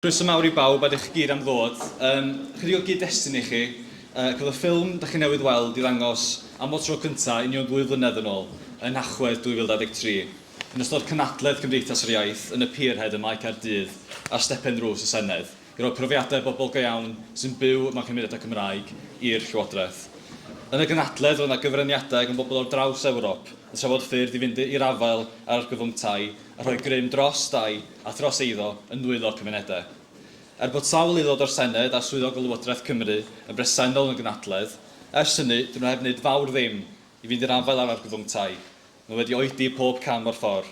Croeso mawr i bawb a dych chi gyd am ddod. Um, chydig o gyd-destun i chi. Uh, cael y ffilm da chi newydd weld i ddangos am y tro cyntaf union ddwy flynedd yn ôl, yn Nhachwedd 2023, yn ystod cynadledd Cymdeithas yr Iaith yn y Pierhead ym Mae Caerdydd ar stepen drws y Senedd. i roi profiadau bobl go iawn sy'n byw mewn cymunedau Cymraeg i'r Llywodraeth. Yn y gynhadledd roedd yna gyfraniadau gan bobl ar draws Ewrop yn trafod ffyrdd i fynd i'r afael â'r argyfwng tai a rhoi grym dros dai a thros eiddo yn nwylo'r cymunedau. Er bod sawl aelod o'r Senedd a swyddog o Lywodraeth Cymru yn bresennol yn y gynhadledd, ers hynny, dyn nhw heb wneud fawr ddim i fynd i'r afael â'r argyfwng tai. Mae wedi oedi pob cam o'r ffordd,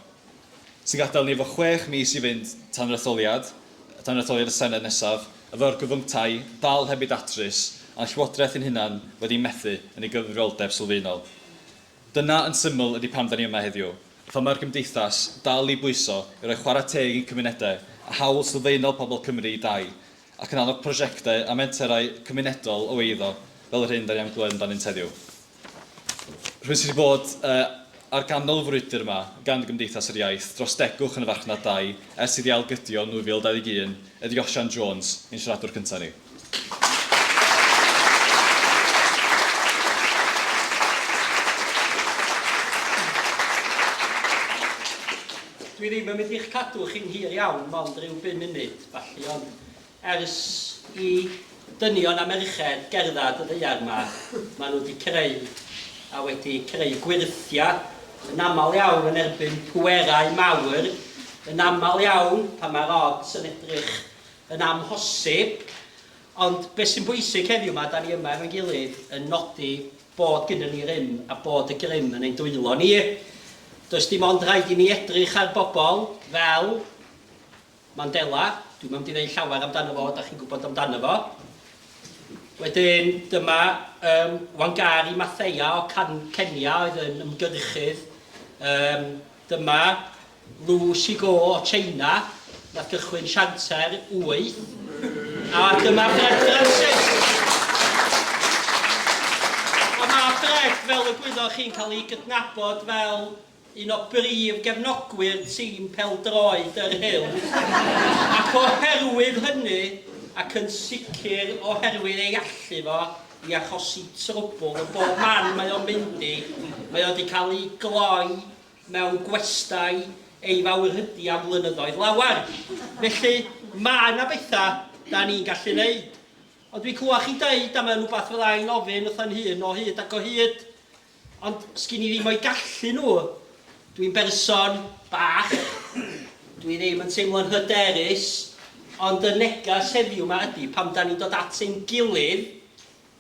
sy'n gadael ni efo chwech mis i fynd tan yr etholiad, tan yr etholiad y Senedd nesaf, efo argyfyngtau dal heb eu datrys, a'n Llywodraeth ein hunan wedi methu yn ei gyfrifoldeb sylfaenol. Dyna, yn syml, ydy pam 'da ni yma heddiw, a pham mae'r Gymdeithas dal i bwyso i roi chwarae teg i'n cymunedau a hawl sylfaenol pobl Cymru i dai, ac yn annog prosiectau a menterau cymunedol o eiddo, fel yr hyn 'da ni am glywed amdanynt heddiw. Rhywun sydd wedi bod ar ganol y frwydr yma gan Gymdeithas yr Iaith dros degwch yn y farchnad dai ers iddi ailgydio yn 2021 ydi Osian Jones, ein siaradwr cynta ni. Dwi ddim yn mynd i'ch cadw chi'n hir iawn, mond ryw bum munud, felly, ond Ers i dynion a merched gerdded y ddaear yma, maen nhw wedi creu, a wedi creu gwyrthiau, yn aml iawn yn erbyn pwerau mawr, yn aml iawn pan mae'r odds yn edrych yn amhosib. Ond beth sy'n bwysig heddiw 'ma, 'da ni yma efo'n gilydd yn nodi bod gynnon ni rym a bod y grym yn ein dwylo ni. Does dim ond rhaid i ni edrych ar bobl fel, Mandela, dwi'm am di ddeud llawer amdano fo, da chi'n gwybod amdano fo. Wedyn, dyma um, Wangari Mathea o Can Kenya oedd yn ymgyrchydd. Um, dyma Lu Shigo o China, nath gychwyn sianter 8. A dyma Fred Francis. Ond mae Fred, fel y gwyddoch chi'n cael ei gydnabod fel un o brif gefnogwyr tîm pêl-droed yr Huw, ac oherwydd hynny, ac yn sicr oherwydd ei allu fo i achosi trwbwl yn bob man mae o'n mynd i, mae o 'di cael ei gloi mewn gwestai ei fawrhydi am flynyddoedd lawer. Felly, mae 'na bethau 'da ni'n gallu 'neud. Ond dwi'n clywed chi deud, a mae'n rhywbeth fydda i'n ofyn wrtha 'yn hun o hyd ac o hyd, Ond sgin i ddim o'i gallu nhw. Dwi'n berson bach, dwi ddim yn teimlo'n hyderus, ond y neges heddiw 'ma ydi, pan 'dan ni'n dod at ein gilydd,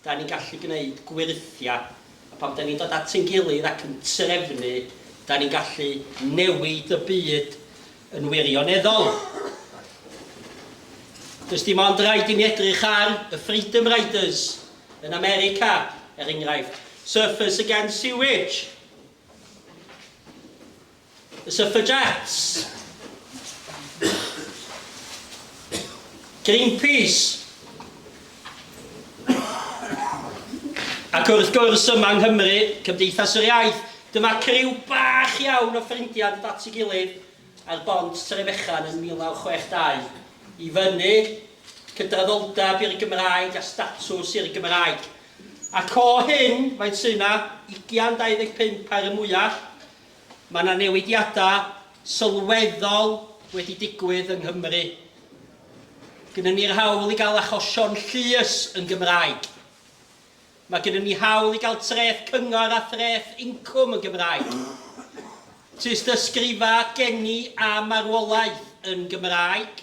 'dan ni'n gallu gwneud gwyrthiau, a pan 'dan ni'n dod at ein gilydd ac yn trefnu, 'dan ni'n gallu newid y byd yn wirioneddol. Does dim ond rhaid i mi edrych ar y Freedom Riders Yn America, er enghraifft, Surfers Against Sewage, y Suffragettes, Greenpeace, ac wrth gwrs yma yng Nghymru, Cymdeithas yr Iaith. Dyma criw bach iawn o ffrindiau yn dod at ei gilydd ar bont Trefechan yn 1962 i fyny cydraddoldeb i'r Gymraeg a statws i'r Gymraeg. Ac o hyn, faint sy' 'na, ugian, 25 ar y mwyach, mae 'na newidiadau sylweddol wedi digwydd yng Nghymru. Gynnon ni'r hawl i gael achosion llys yn Gymraeg. Mae gynnon ni hawl i gael treth cyngor a threth incwm yn Gymraeg. Tystysgrifa geni a marwolaeth yn Gymraeg.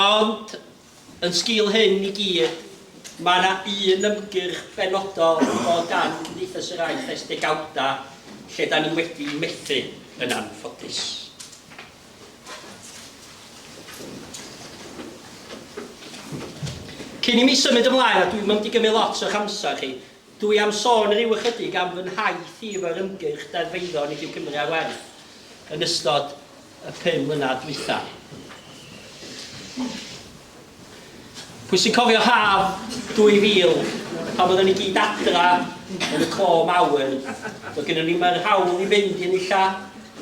Ond, yn sgil hyn i gyd, mae yna un ymgyrch benodol yn dod gan Cymdeithas yr Iaith ers degawdau lle da ni wedi methu, yn anffodus. Cyn i mi symud ymlaen, a dwi'm yn mynd i gymryd lot o'ch amser chi, Dwi am sôn ryw ychydig am fy nhaith i efo'r ymgyrch Deddf Eiddo Nid yw Cymru ar Werth yn ystod y pum mlynedd dwytha. Pwy sy'n cofio haf 2000 pan oedden ni gyd adra yn y clo mawr, doedd gynnon ni'm yr hawl i fynd i enilla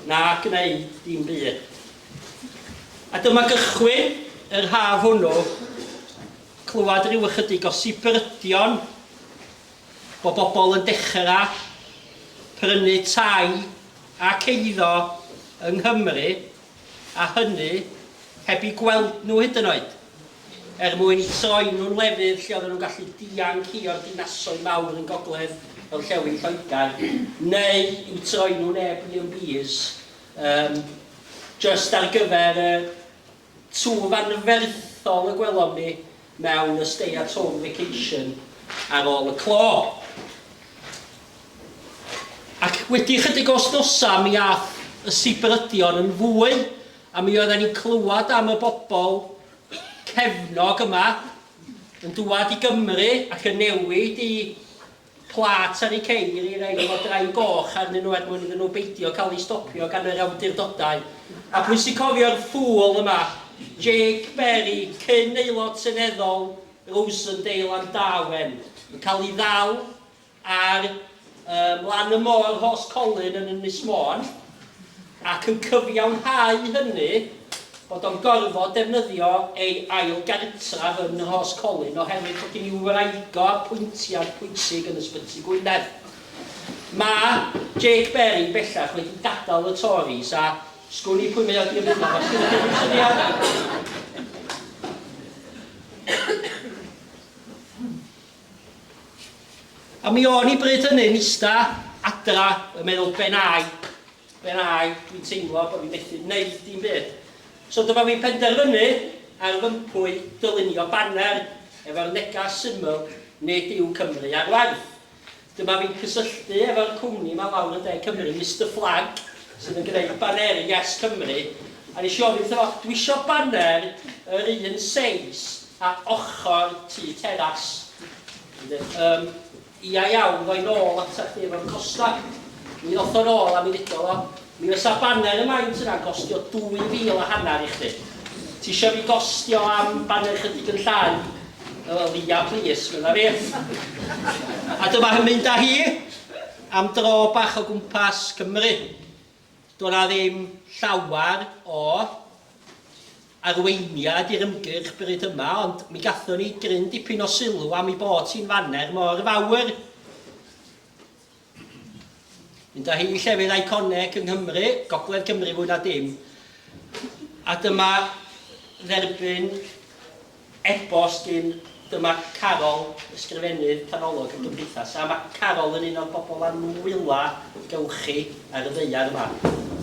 na gwneud dim byd. A dyma gychwyn yr haf hwnnw, clywed rhyw ychydig o sibrydion bod bobl yn dechra prynu tai ac eiddo yng Nghymru a hynny heb i gweld nhw hyd yn oed, er mwyn troi nhw'n lefydd lle oedden nhw'n gallu dianc i o'r dinasoedd mawr yn gogledd orllewin Lloegr, neu i'w troi nhw'n Airbnbs, yym, jyst ar gyfer y Twf anferthol y gwelom ni mewn y Stay at Home Vacation ar ôl y clo. Ac wedi ychydig o wsnosau mi aeth y sibrydion yn fwy a mi oedden ni'n clywed am y bobl cefnog yma yn dŵad i Gymru ac yn newid i Plât ar eu ceir i rei efo drain goch arnyn nhw er mwyn iddyn nhw beidio cael eu stopio gan yr awdurdodau. A pwy sy'n cofio'r ffŵl yma, Jake Berry, cyn Aelod Seneddol Rosendale am Darwen, yn cael ei ddal ar yym lan y môr Rhos Colyn yn Ynys Môn. ac yn cyfiawnhau hynny bod o'n gorfod defnyddio ei ail gartref yn Rhoscolyn oherwydd bod gen i wraidd-go apwyntiad pwysig yn Ysbyty Gwynedd. Mae Jake Berry bellach wedi gadael y Tories a sgwn i pwy mae o wedi ymuno efo, sgynnoch chi unrhyw syniad? A mi o'n i bryd hynny'n ista adra yn meddwl ben ai, ben ai, dwi'n teimlo bod fi methu wneud dim byd. So dyma fi'n penderfynu ar fy mpwy dylunio baner efo'r negas syml 'Nid yw Cymru ar waith'. Dyma fi'n cysylltu efo'r cwmni 'ma lawr yn De Cymru, Mister Flag, sydd yn gwneud baneri Yes Cymru, a nes i ofyn wrtho fo, dwi isio baner yr un seis Ar ochr tŷ teras. Wedyn, um, ia iawn, rhoi nôl ata chdi efo'r costa. Mi ddoth o'n ôl a mi ddudodd o, mi fysa baner y maint yna'n costio 2,000 a hanner i chdi. Ti eisiau fi gostio am baner chydig yn llai? Wel, ia, plis, fydda fi. A dyma hyn mynd â hi am dro bach o gwmpas Cymru. Doedd yna ddim llawer o arweiniad i'r ymgyrch bryd yma, ond mi gathon ni gryn dipyn o sylw am ei bod hi'n faner mor fawr. Mynd â hi i llefydd eiconeg yng Nghymru, Gogledd Cymru fwy na dim. A dyma dderbyn E-bost gin, Dyma Carol, Ysgrifennydd Canolog y Gymdeithas, a mae Carol yn un o'r bobl a nwyla gewch chi ar y ddaear yma.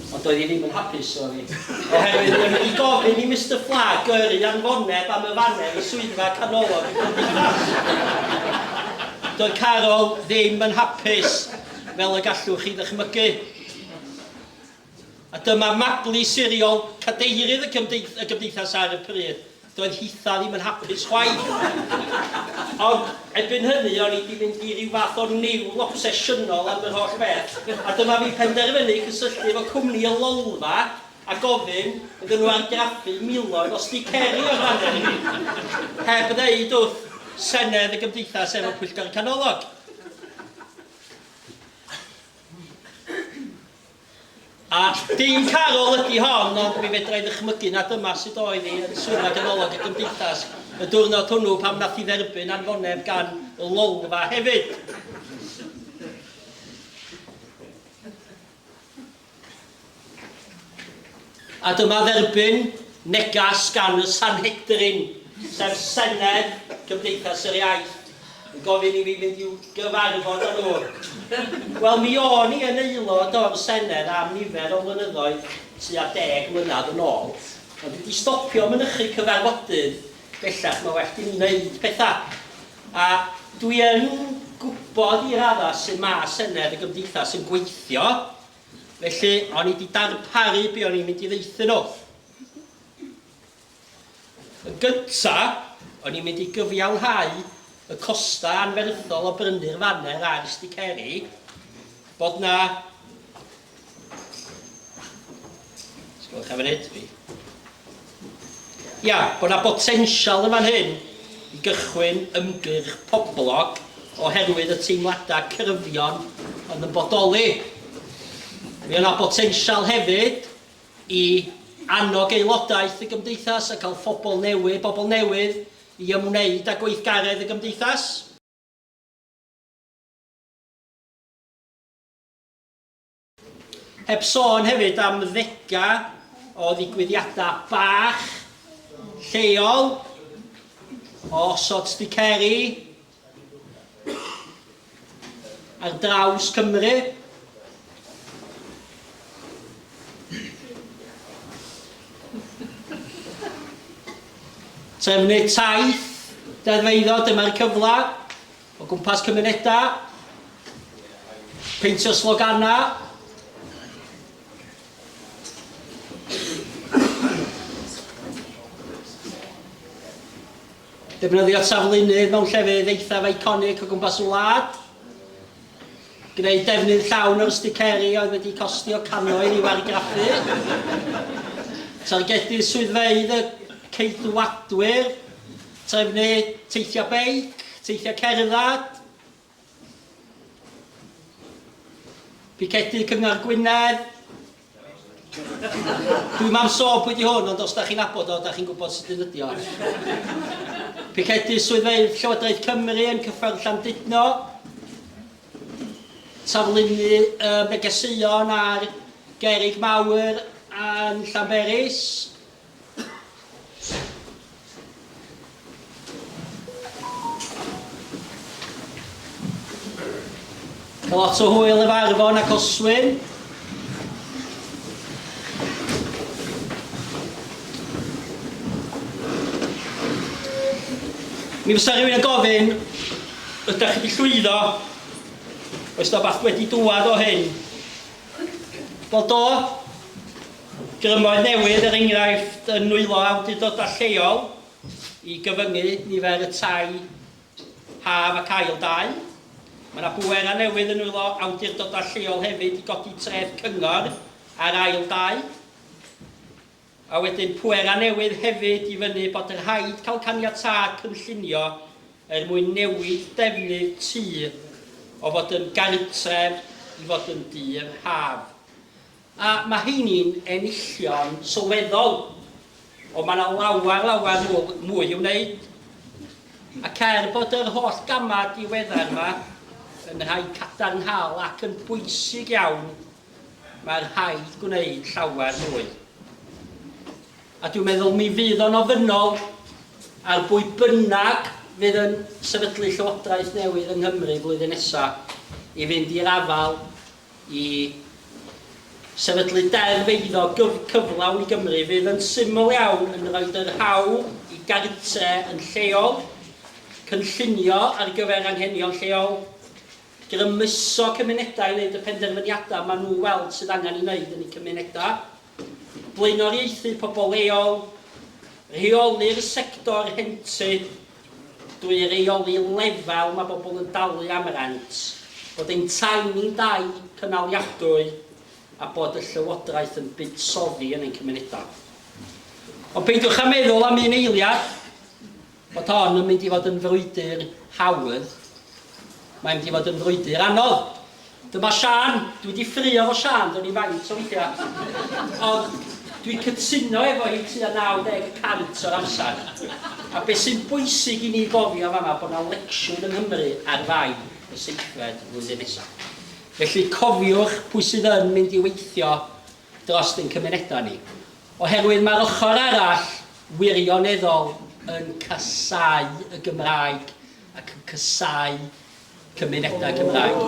Ond doedd hi ddim yn hapus, sori, oherwydd mae hi wedi gofyn i Mister Flag gyrru anfoneb am y faner i Swyddfa Canolog y Gymdeithas. Doedd Carol ddim yn hapus, fel y gallwch chi ddychmygu. A dyma Mabli siriol, cadeirydd y Gymdeithas ar y pryd. Doedd hitha ddim yn hapus chwaith. Ond erbyn hynny o'n i 'di mynd i ryw fath o niwl obsesiynol am yr holl beth, a dyma fi'n penderfynu cysylltu efo cwmni y Lolfa a gofyn iddyn nhw argraffu miloedd o sticeri o'r faner i mi, heb ddeud wrth Senedd y Gymdeithas efo Pwyllgor y Canolog. A dim Carol ydi hon, ond mi fedra i ddychmygu na dyma sut oedd hi yn Swyddfa Ganolog y Gymdeithas y diwrnod hwnnw pan wnaeth hi dderbyn anfoneb gan y Lolfa hefyd. A dyma dderbyn negas gan y Sanhedrin, sef Senedd Cymdeithas yr Iaith, yn gofyn i fi fynd i'w gyfarfod â nhw. Wel, mi o'n i yn aelod o'r Senedd am nifer o flynyddoedd, tua deg mlynedd yn ôl, ond dwi 'di stopio mynychu cyfarfodydd bellach, mae well gen i wneud pethau. A dwi yn gwybod i raddau sut mae Senedd y Gymdeithas yn gweithio, Felly, o'n i wedi darparu be o'n i'n mynd i ddeithu nhw. Yn gyntaf, o'n i'n mynd i gyfiawnhau y costau anferthol o brynu'r faner a'r sticeri, bod 'na Sgwelwch am hyd fi. Ia, bod yna botensial yn fan hyn i gychwyn ymgyrch poblog oherwydd y teimladau cyrfion oedd yn bodoli. Mi yna botensial hefyd i annog aelodaeth y gymdeithas a cael phobl newydd, bobl newydd i ymwneud â gweithgaredd y gymdeithas. Heb sôn hefyd am ddega o ddigwyddiadau bach, lleol, o osod sbiceri ar draws Cymru. Trefnu taith deddfeiddo, dyma'r cyfle. O gwmpas cymunedau, peintio sloganau, defnyddio taflunydd mewn llefydd eithaf iconic o gwmpas y wlad, gwneud defnydd llawn o'r sticeri oedd wedi costio cannoedd i'w argraffu, targedu swyddfeydd y Ceidwadwyr, Trefnu teithiau beic, teithiau cerdded, picedu Cyngor Gwynedd. Dwi'm am sôn pwy 'di hwn ond os 'da chi'n nabod o 'da chi'n gwybod sut un ydi o. Picedu swyddfeydd Llywodraeth Cymru yn Cyffordd Llandudno. Taflunnu y negeseuon ar gerrig mawr yn Llanberis. Mae lot o hwyl efo Arfon ac Oswyn. Mi fysa rhywun yn gofyn, ydych chi wedi llwyddo? Oes da bach wedi dŵad o hyn? Wel do, Grymoedd newydd, er enghraifft, yn nwylo awdurdodau lleol i gyfyngu nifer y tai haf ac ail dai. Mae yna bwerau newydd yn nwylo awdurdodau lleol hefyd i godi treth cyngor ar ail dai. A wedyn pwerau newydd hefyd i fynnu bod yn rhaid cael caniatâd cynllunio er mwyn newid defnydd tŷ o fod yn gartref i fod yn dŷ haf. A mae heini'n enillion sylweddol, ond mae 'na lawer, lawer mwy, mwy i'w wneud. Ac er bod yr holl gamau diweddar yma yn rhai cadarnhaol ac yn bwysig iawn, mae rhaid gwneud llawer mwy. A dwi'n meddwl mi fydd o'n ofynnol ar bwy bynnag fydd yn sefydlu llywodraeth newydd yng Nghymru flwyddyn nesaf i fynd i'r afael I sefydlu deddf eiddo cyflawn i Gymru fydd yn syml iawn yn rhoid yr hawl i gartre yn lleol gynllunio ar gyfer anghenion lleol, grymuso cymunedau i wneud y penderfyniadau maen nhw'n weld sydd angen ei wneud yn eu cymunedau. blaenoriaethu pobl leol, rheoli'r sector rhentu drwy reoli lefel mae bobl yn dalu am rent, bod ein tai ni'n dai cynaliadwy a bod y Llywodraeth yn buddsoddi yn ein cymunedau. Ond peidiwch â meddwl am un eiliad Bod hon yn mynd i fod yn frwydr hawdd, mae'n mynd i fod yn frwydr anodd. Dyma Siân, dwi wedi ffrio fo Siân, do'n i faint o weithiau. Ond dwi'n cytuno efo hi tua 90 y cant o'r amser. A beth sy'n bwysig i ni gofio yn fan'ma bod 'na lecsiwn yng Nghymru ar fai y seithfed flwyddyn nesaf. Felly cofiwch pwy sydd yn mynd i weithio drost ein cymunedau ni. Oherwydd mae'r ochr arall wirioneddol yn casáu y Gymraeg ac yn casáu cymunedau Cymraeg.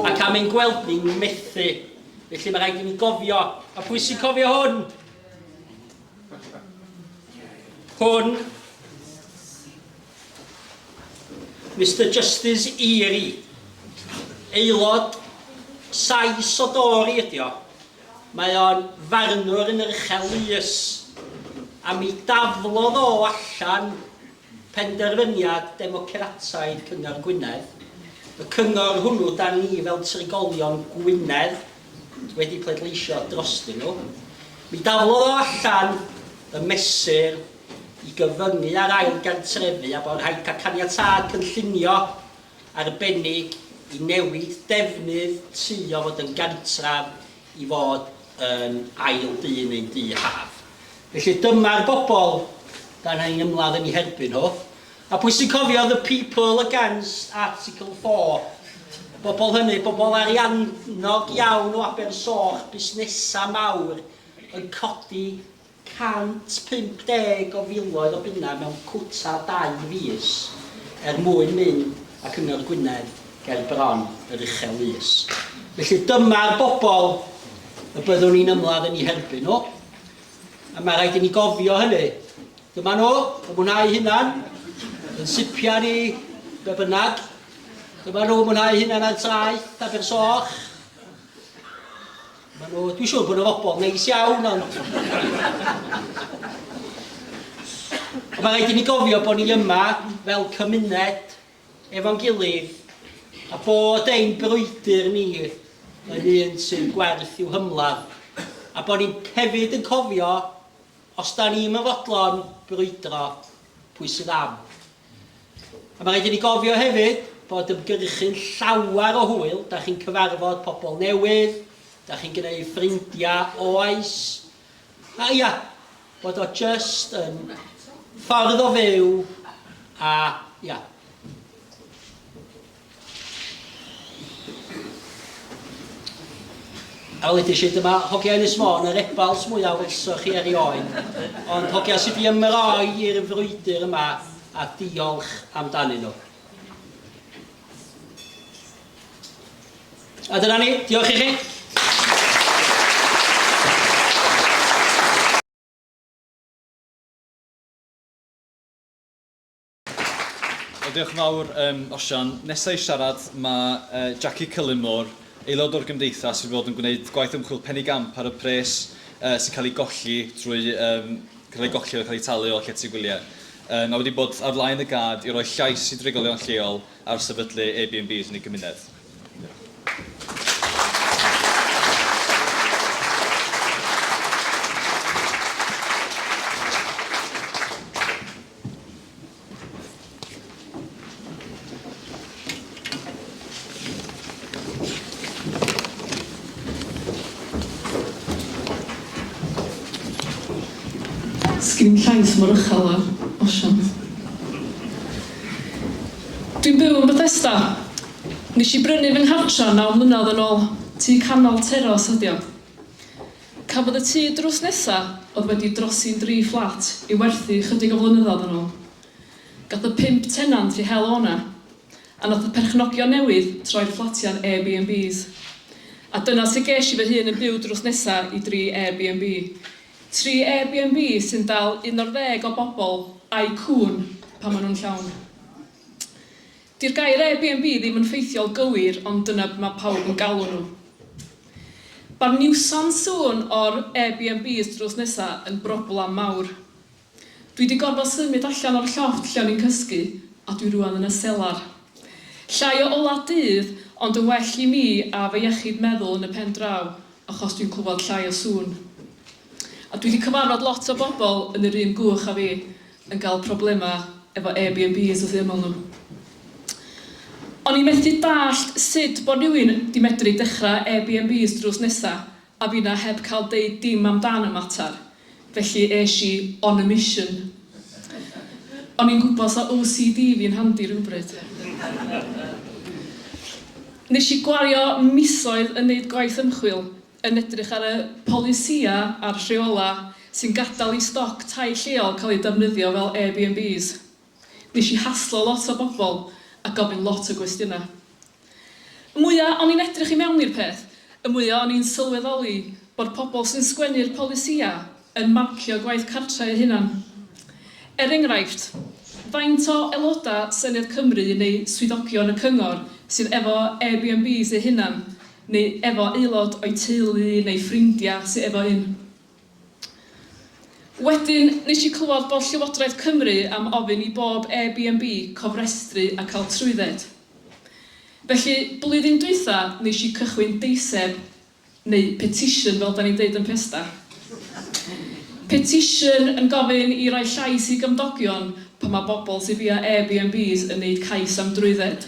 Ac am ein gweld ni methu. Felly mae rhaid i ni gofio, a phwy sy'n cofio hwn? Hwn. Mister Justice Eary. Aelod Sais o Dori ydi o. Mae o'n farnwr yn yr Uchel Lys, a mi daflodd o allan penderfyniad democrataidd Cyngor Gwynedd, y cyngor hwnnw 'da ni fel trigolion Gwynedd wedi pleidleisio drostyn nhw, mi daflodd o allan y mesur i gyfyngu ar ail gartrefu a bod rhaid cael caniatâd cynllunio arbennig i newid defnydd tŷ o fod yn gartref i fod yn ail dŷ neu'n dŷ haf. Felly dyma'r bobl da ni'n ymladd yn eu herbyn nhw. A pwy sy'n cofio the people against article 4? Y bobl hynny, bobl ariannog iawn o Abersoch, busnesau mawr yn codi 150 o filoedd o bunnau mewn cwta dau fis er mwyn mynd ac ymwneud â Gwynedd ger bron yr Uchel Lys. Felly dyma'r bobl y byddwn ni'n ymladd yn eu herbyn nhw, a mae rhaid i ni gofio hynny. Dyma nhw, y mwynhau hunan, yn sipiau ni, be bynnag. Dyma nhw, mwynhau hunan ar traeth, Abersoch. Maen nhw, dwi'n siŵr bod nhw fobl neis iawn, ond... Mae rhaid i ni gofio bod ni yma fel cymuned efo'n gilydd a bod ein brwydr ni yn un sy'n gwerth i'w hymladd a bod ni'n hefyd yn cofio os da ni'n fodlon brwydro, pwy sydd am. A mae rhaid i ni gofio hefyd bod ymgyrchu'n llawer o hwyl, da chi'n cyfarfod pobl newydd, da chi'n gwneu ffrindiau oes, a ia, bod o jyst yn ffordd o fyw a ia. A wedais i, dyma hogia Ynys Môn, yr ebals mwyaf welsoch chi erioed, ond hogia sydd wedi ymroi i'r frwydr yma, a diolch amdanyn nhw. A dyna ni, diolch i chi. Wel diolch yn fawr um, Osian. Nesaf i siarad mae uh, Jackie Cullimore, aelod o'r gymdeithas sydd fod yn gwneud gwaith ymchwil penny gamp ar y pres uh, sy'n cael ei golli drwy um, cael ei golli o cael ei talu o llety gwyliau. Um, a wedi bod ar flaen y gad i roi llais i drigolion lleol ar sefydlu Airbnbs yn ei gymuned. Sgin llais mor uchel â'r osiant. Dwi'n byw yn Bethesda. Nes i brynu fy nghartra naw mlynedd yn ôl. Tŷ canol teros ydi o. Cafodd y tŷ drws nesa oedd wedi drosi'n dri fflat i'w werthu ychydig o flynyddoedd yn ôl. Gath y pump tenant eu hel o 'na, a nath y perchnogion newydd troi'r fflatiau'n Airbnbs. A dyna sut ges i fy hun yn byw drws nesa i dri Airbnb. Tri Airbnb sy'n dal un o'r ddeg o bobl a'u cŵn pan maen nhw'n llawn. Di'r gair Airbnb ddim yn ffeithiol gywir ond dyna be mae pawb yn galw nhw. Ba'r niwsans sŵn o'r Airbnbs drws nesa yn broblam mawr. Dwi di gorfod symud allan o'r llofft lle o'n i'n cysgu a dwi rŵan yn y selar. Llai o ola dydd ond yn well i mi a fy iechyd meddwl yn y pen draw achos dwi'n clywed llai o sŵn. A dwi di cyfarfod lot o bobl yn yr un gwch a fi yn cael problemau efo Airbnbs wrth eu ymyl nhw. O'n i methu dallt sut bod rhywun 'di medru dechrau Airbnbs drws nesa a finna heb cael deud dim amdan y mater, felly es i on a mission. O'n i'n gwybod 'sa OCD fi'n handi rhywbryd. Nes i gwario misoedd yn neud gwaith ymchwil yn edrych ar y polisïau a'r rheolau sy'n gadael i stoc tai lleol cael ei defnyddio fel Airbnbs. Nes i haslo lot o bobl a gofyn lot o gwestiynau. Y mwya o'n i'n edrych i mewn i'r peth, y mwya o'n i'n sylweddoli bod pobl sy'n sgwennu'r polisïau yn marcio gwaith cartref eu hunan. Er enghraifft, faint o aelodau Senedd Cymru neu swyddogion y cyngor sydd efo Airbnbs eu hunan neu efo aelod o'i teulu neu ffrindia sy efo un. Wedyn nes i clywad bod Llywodraeth Cymru am ofyn i bob Airbnb cofrestru a cael trwydded. Felly blwyddyn dwytha nes i cychwyn deiseb neu petition fel da ni'n deud yn Pesda. Petition yn gofyn i roi llais i gymdogion pan mae bobl sy bia Airbnbs yn neud cais am drwydded.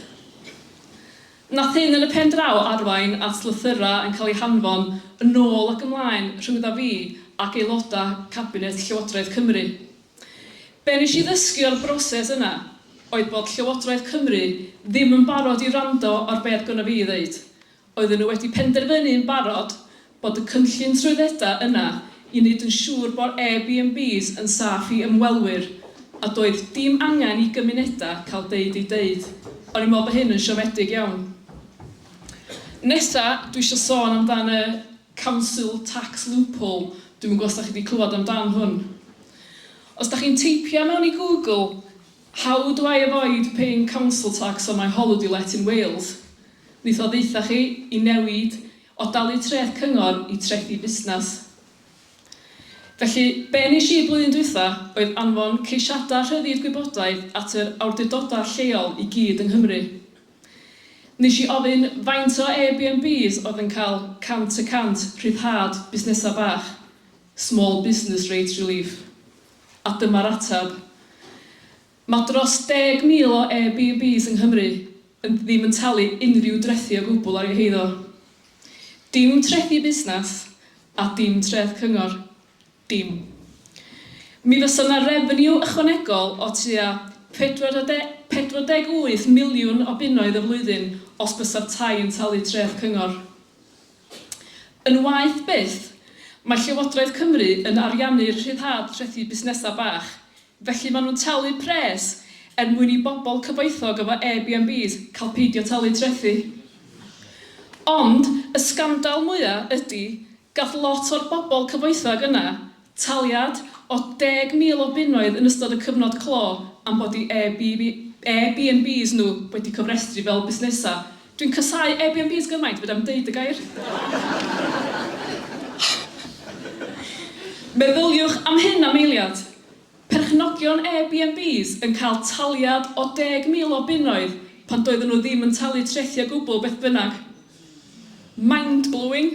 Nath hyn yn y pen draw arwain at lythyrau yn cael eu hanfon yn ôl ac ymlaen rhyngdda fi ac aelodau cabinet Llywodraeth Cymru. Be nes i ddysgu o'r broses yna oedd bod Llywodraeth Cymru ddim yn barod i wrando ar be oedd gynna fi i ddeud. Oedden nhw wedi penderfynu yn barod bod y cynllun trwyddedau yna i wneud yn siŵr bod Airbnbs yn saff i ymwelwyr, a doedd dim angen i gymunedau cael deud eu deud. O'n i'n meddwl bod hyn yn siomedig iawn. Nesa, dwi eisiau sôn amdan y Council Tax Loophole, dwi'm yn gwybod os da chi wedi clywed amdan hwn. Os da chi'n teipio mewn i Google, how do I avoid paying council tax on my holiday let in Wales, neith o ddaetha chi i newid O dalu treth cyngor i trethi busnes. Felly, be wnes i blwyddyn dwytha oedd anfon ceisiadau rhyddid gwybodaeth at yr awdurdodau lleol i gyd yng Nghymru. Wnes i ofyn faint o Airbnbs oedd yn cael 100 y cant rhyddhad busnesau bach, small business rate relief, a dyma'r ateb. Mae dros 10,000 o Airbnbs yng Nghymru yn ddim yn talu unrhyw drethi o gwbl ar eu heiddo. Dim trethi busnes a dim treth cyngor. Dim. Mi fysa 'na refeniw ychwanegol o tua 48 miliwn o bunnoedd y flwyddyn os bysa'r tai yn talu treth cyngor. Yn waeth byth, mae Llywodraeth Cymru yn ariannu'r rhyddhad trethi busnesau bach, Felly maen nhw'n talu pres er mwyn i bobl cyfoethog efo Airbnbs cael peidio talu trethi. Ond y sgandal mwya ydy gath lot o'r bobl cyfoethog yna taliad o 10,000 o bunnoedd yn ystod y cyfnod clo am bod i Airbnbs nhw wedi cofrestru fel busnesau Dwi'n casáu Airbnbs gymaint fedra i'm deud y gair! Meddyliwch am hyn am eiliad, perchnogion Airbnbs yn cael taliad o 10,000 o bunnoedd pan doedden nhw ddim yn talu trethi o gwbl beth bynnag. Mind-blowing!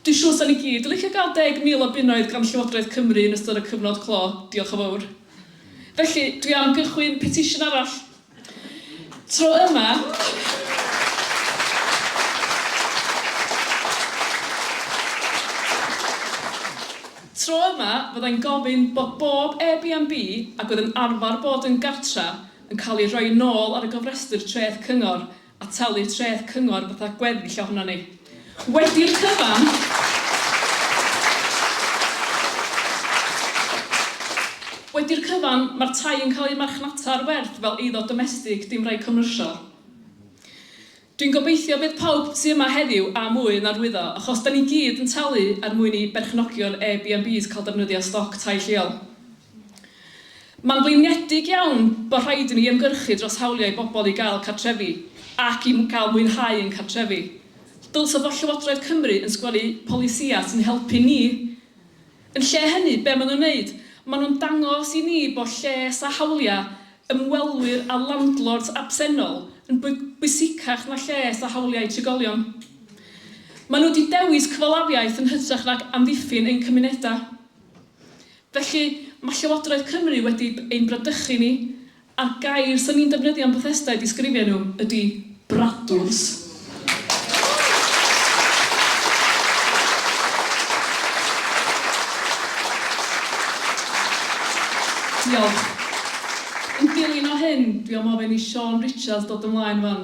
Dwi'n siŵr 'sa ni gyd yn licio gael 10,000 o bunnoedd gan Llywodraeth Cymru yn ystod y cyfnod clo, diolch yn fawr. Felly, dwi am gychwyn petisiwn arall Tro yma, Tro yma, fyddai'n gofyn bod bob Airbnb ac oedd yn arfer bod yn gartref yn cael ei rhoi yn ôl ar y gofrestr Treth Cyngor a talu treth cyngor fatha gweddill ohonon ni. Wedi'r cyfan, wedi'r cyfan, mae'r tai yn cael eu marchnata ar werth fel eiddo domestig, dim rhai comrsial. Dwi'n gobeithio bydd pawb tu yma heddiw am mwy yn arwyddo, achos 'da ni gyd yn talu er mwyn i berchnogion Airbnbs cael defnyddio stoc tai lleol. Mae'n flinedig iawn bod rhaid i ni ymgyrchu dros hawliau i bobl i gael cartrefi ac i gael mwynhau ein cartrefi. Dylse fod Llywodraeth Cymru yn sgwennu polisïau sy'n helpu ni. Yn lle hynny, be maen nhw'n wneud? Maen nhw'n dangos i ni bod lles a hawliau ymwelwyr a landlords absennol yn bwysicach na lles a hawliau trigolion. Maen nhw wedi dewis cyfalafiaeth yn hytrach nag amddiffyn ein cymunedau. Felly, mae Llywodraeth Cymru wedi ein bradychu ni, a'r gair 'swn i'n defnyddio am Bethesda i ddisgrifio nhw ydy 'bradwrs'. Diolch. Yn dilyn o hyn, dwi am ofyn i Siân Richards ddod ymlaen 'wan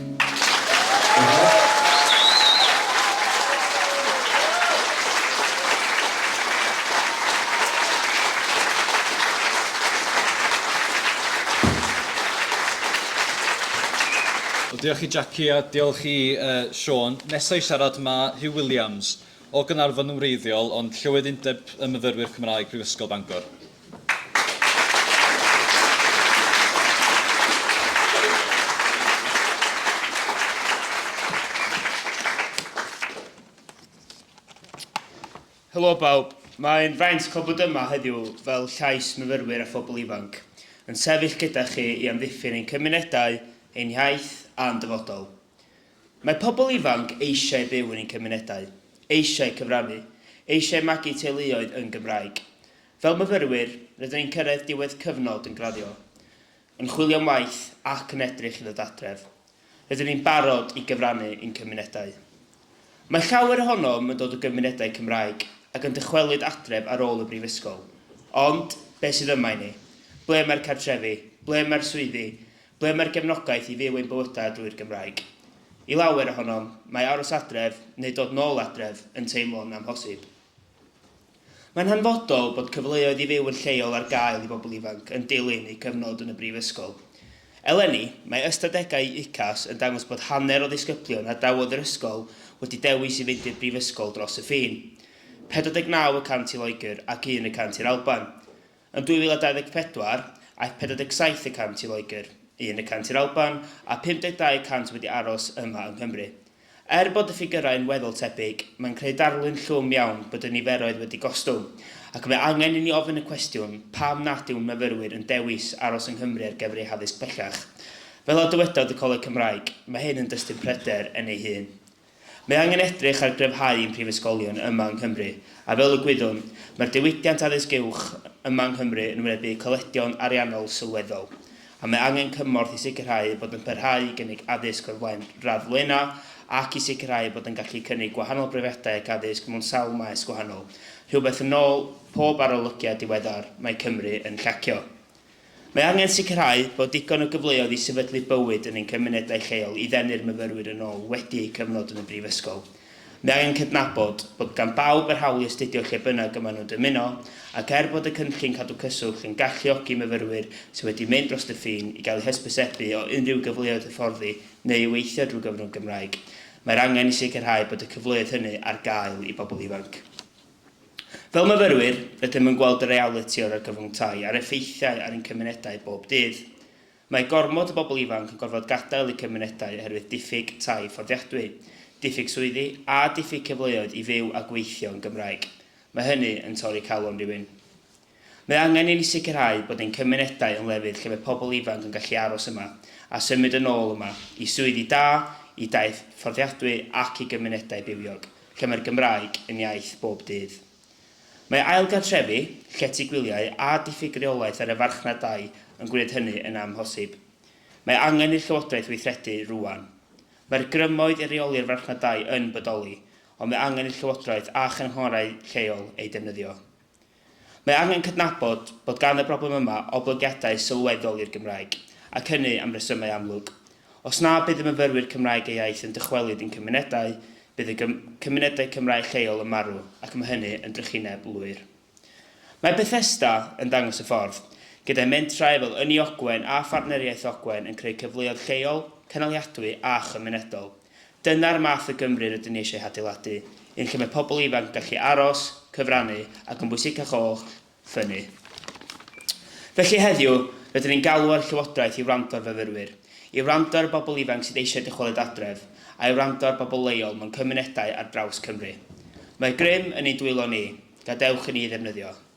Diolch i Jackie a diolch i uh, Sean. Nesa i siarad mae Hugh Williams o Gynarfon yn wreiddiol ond Llywydd Undeb y Myfyrwyr Cymraeg Prifysgol Bangor. Helo bawb, mae'n fraint cael bod yma heddiw fel llais myfyrwyr a phobl ifanc, yn sefyll gyda chi i amddiffyn ein cymunedau, ein hiaith a'n dyfodol. Mae pobl ifanc eisiau byw yn eu cymunedau, eisiau cyfrannu, eisiau magu teuluoedd yn Gymraeg. Fel myfyrwyr, rydyn ni'n cyrraedd diwedd cyfnod yn graddio, yn chwilio am waith ac yn edrych i ddod adref. Rydyn ni'n barod i gyfrannu i'n cymunedau. Mae llawer ohonom yn dod o gymunedau Cymraeg ac yn dychwelyd adref ar ôl y brifysgol. Ond, beth sydd yma i ni? Ble mae'r cartrefi? Ble mae'r swyddi? Ble mae'r gefnogaeth i fyw ein bywydau drwy'r Gymraeg? I lawer ohonom, mae aros adref, neu dod nôl adref, yn teimlo'n amhosib. Mae'n hanfodol bod cyfleoedd i fyw yn lleol ar gael i bobl ifanc yn dilyn eu cyfnod yn y brifysgol. Eleni, mae ystadegau UCAS yn dangos bod hanner o ddisgyblion a dawodd yr ysgol wedi dewis i fynd i'r brifysgol dros y ffin, 49 y cant i Loegr ac un y cant i'r Alban. Yn 2024, aeth 47 y cant i Loegr, un y cant i'r Alban, a 52 y cant wedi aros yma yng Nghymru. Er bod y ffigyrau yn weddol tebyg, mae'n creu darlun llwm iawn bod y niferoedd wedi gostwng, ac mae angen i ni ofyn y cwestiwn pam nad yw'n myfyrwyr yn dewis aros yng Nghymru ar gyfer eu haddysg pellach. Fel a dywedodd y Coleg Cymraeg, mae hyn yn dystyn pryder yn ei hun. Mae angen edrych ar gryfhau ein prifysgolion yma yng Nghymru, a fel y gwyddwn, mae'r diwydiant addysg uwch yma yng Nghymru yn wynebu colledion ariannol sylweddol, a mae angen cymorth i sicrhau eu bod yn parhau i gynnig addysg o'r flaen radd flaenau ac i sicrhau eu bod yn gallu cynnig gwahanol brofiadau ac addysg mewn sawl maes gwahanol, rhywbeth yn ôl pob arolygiad diweddar mae Cymru yn llacio. Mae angen sicrhau bod digon o gyfleoedd i sefydlu bywyd yn ein cymunedau lleol i ddenu'r myfyrwyr yn ôl wedi eu cyfnod yn y brifysgol. Mae angen cydnabod bod gan bawb yr hawl i astudio lle bynnag y maen nhw'n dymuno, ac er bod y cynllun Cadw Cyswllt yn galluogi myfyrwyr sydd wedi mynd dros y ffin i gael eu hysbysebu o unrhyw gyfleoedd hyfforddi neu i weithio drwy gyfrwng Gymraeg, mae'r angen i sicrhau bod y cyfleoedd hynny ar gael i bobl ifanc. Fel myfyrwyr, rydym yn gweld y realiti o'r argyfwng tai a'r effeithiau ar ein cymunedau bob dydd. Mae gormod o bobl ifanc yn gorfod gadael eu cymunedau oherwydd diffyg tai fforddiadwy, diffyg swyddi a diffyg cyfleoedd i fyw a gweithio yn Gymraeg. Mae hynny yn torri calon rywun. Mae angen i ni sicrhau bod ein cymunedau yn lefydd lle mae pobl ifanc yn gallu aros yma, a symud yn ôl yma, i swyddi da, i daith fforddiadwy ac i gymunedau bywiog, lle mae'r Gymraeg yn iaith bob dydd. Mae ailgartrefu, llety gwyliau a diffyg reolaeth ar y farchnad dai yn gwneud hynny yn amhosib. Mae angen i'r Llywodraeth weithredu rŵan. Mae'r grymoedd i reoli'r farchnad dai yn bodoli, ond mae angen i'r Llywodraeth a chynghorau lleol eu defnyddio. Mae angen cydnabod bod gan y broblem yma oblygiadau sylweddol i'r Gymraeg, ac hynny am resymau amlwg. Os na bydd y myfyrwyr Cymraeg eu iaith yn dychwelyd i'n cymunedau, bydd y cymunedau Cymraeg lleol yn marw, ac mae hynny yn drychineb lwyr. Mae Bethesda yn dangos y ffordd, gyda'i mentrau fel Ynni Ogwen a Phartneriaeth Ogwen yn creu cyfleoedd lleol, cynaliadwy a chymunedol. Dyna'r math o Gymru rydyn ni eisiau hadeiladu, un lle mae pobl ifanc yn gallu aros, cyfrannu ac yn bwysicach oll, ffynnu. Felly heddiw, rydyn ni'n galw ar y Llywodraeth i wrando ar fyfyrwyr, i wrando ar y bobl ifanc sydd eisiau dychwelyd adref, a'i wrando ar bobl leol mewn cymunedau ar draws Cymru. Mae grym yn ein dwylo ni, gadewch i ni ei ddefnyddio.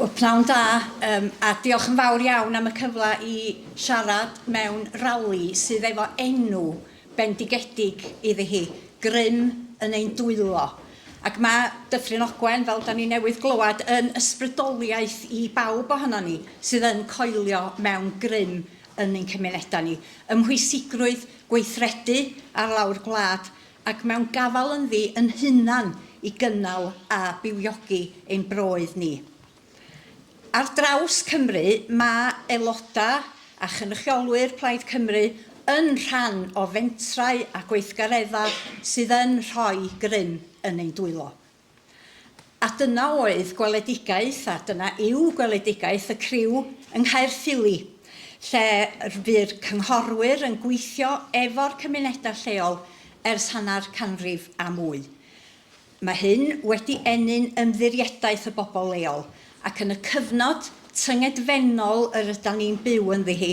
Wel, pnawn da, um, a diolch yn fawr iawn am y cyfle i siarad mewn rali sydd efo enw bendigedig iddi hi, grym yn ein dwylo. Ac mae Dyffryn Ogwen, fel da ni newydd glywed, yn ysbrydoliaeth i bawb ohono ni sydd yn coelio mewn grym yn ein cymunedau ni. Ymhwysigrwydd gweithredu ar lawr gwlad ac mewn gafal ynddi yn hunan i gynnal a bywiogi ein broydd ni. Ar draws Cymru, mae aelodau a chynrychiolwyr Plaid Cymru yn rhan o fentrau a gweithgareddau sydd yn rhoi grym yn ein dwylo. A dyna oedd gweledigaeth, a dyna yw gweledigaeth y criw yng Nghaerffili, lle bu'r cynghorwyr yn gweithio efo'r cymunedau lleol ers hanner canrif a mwy. Mae hyn wedi ennyn ymddiriedaeth y bobl leol, ac yn y cyfnod tyngedfennol yr ydan ni'n byw ynddi hi,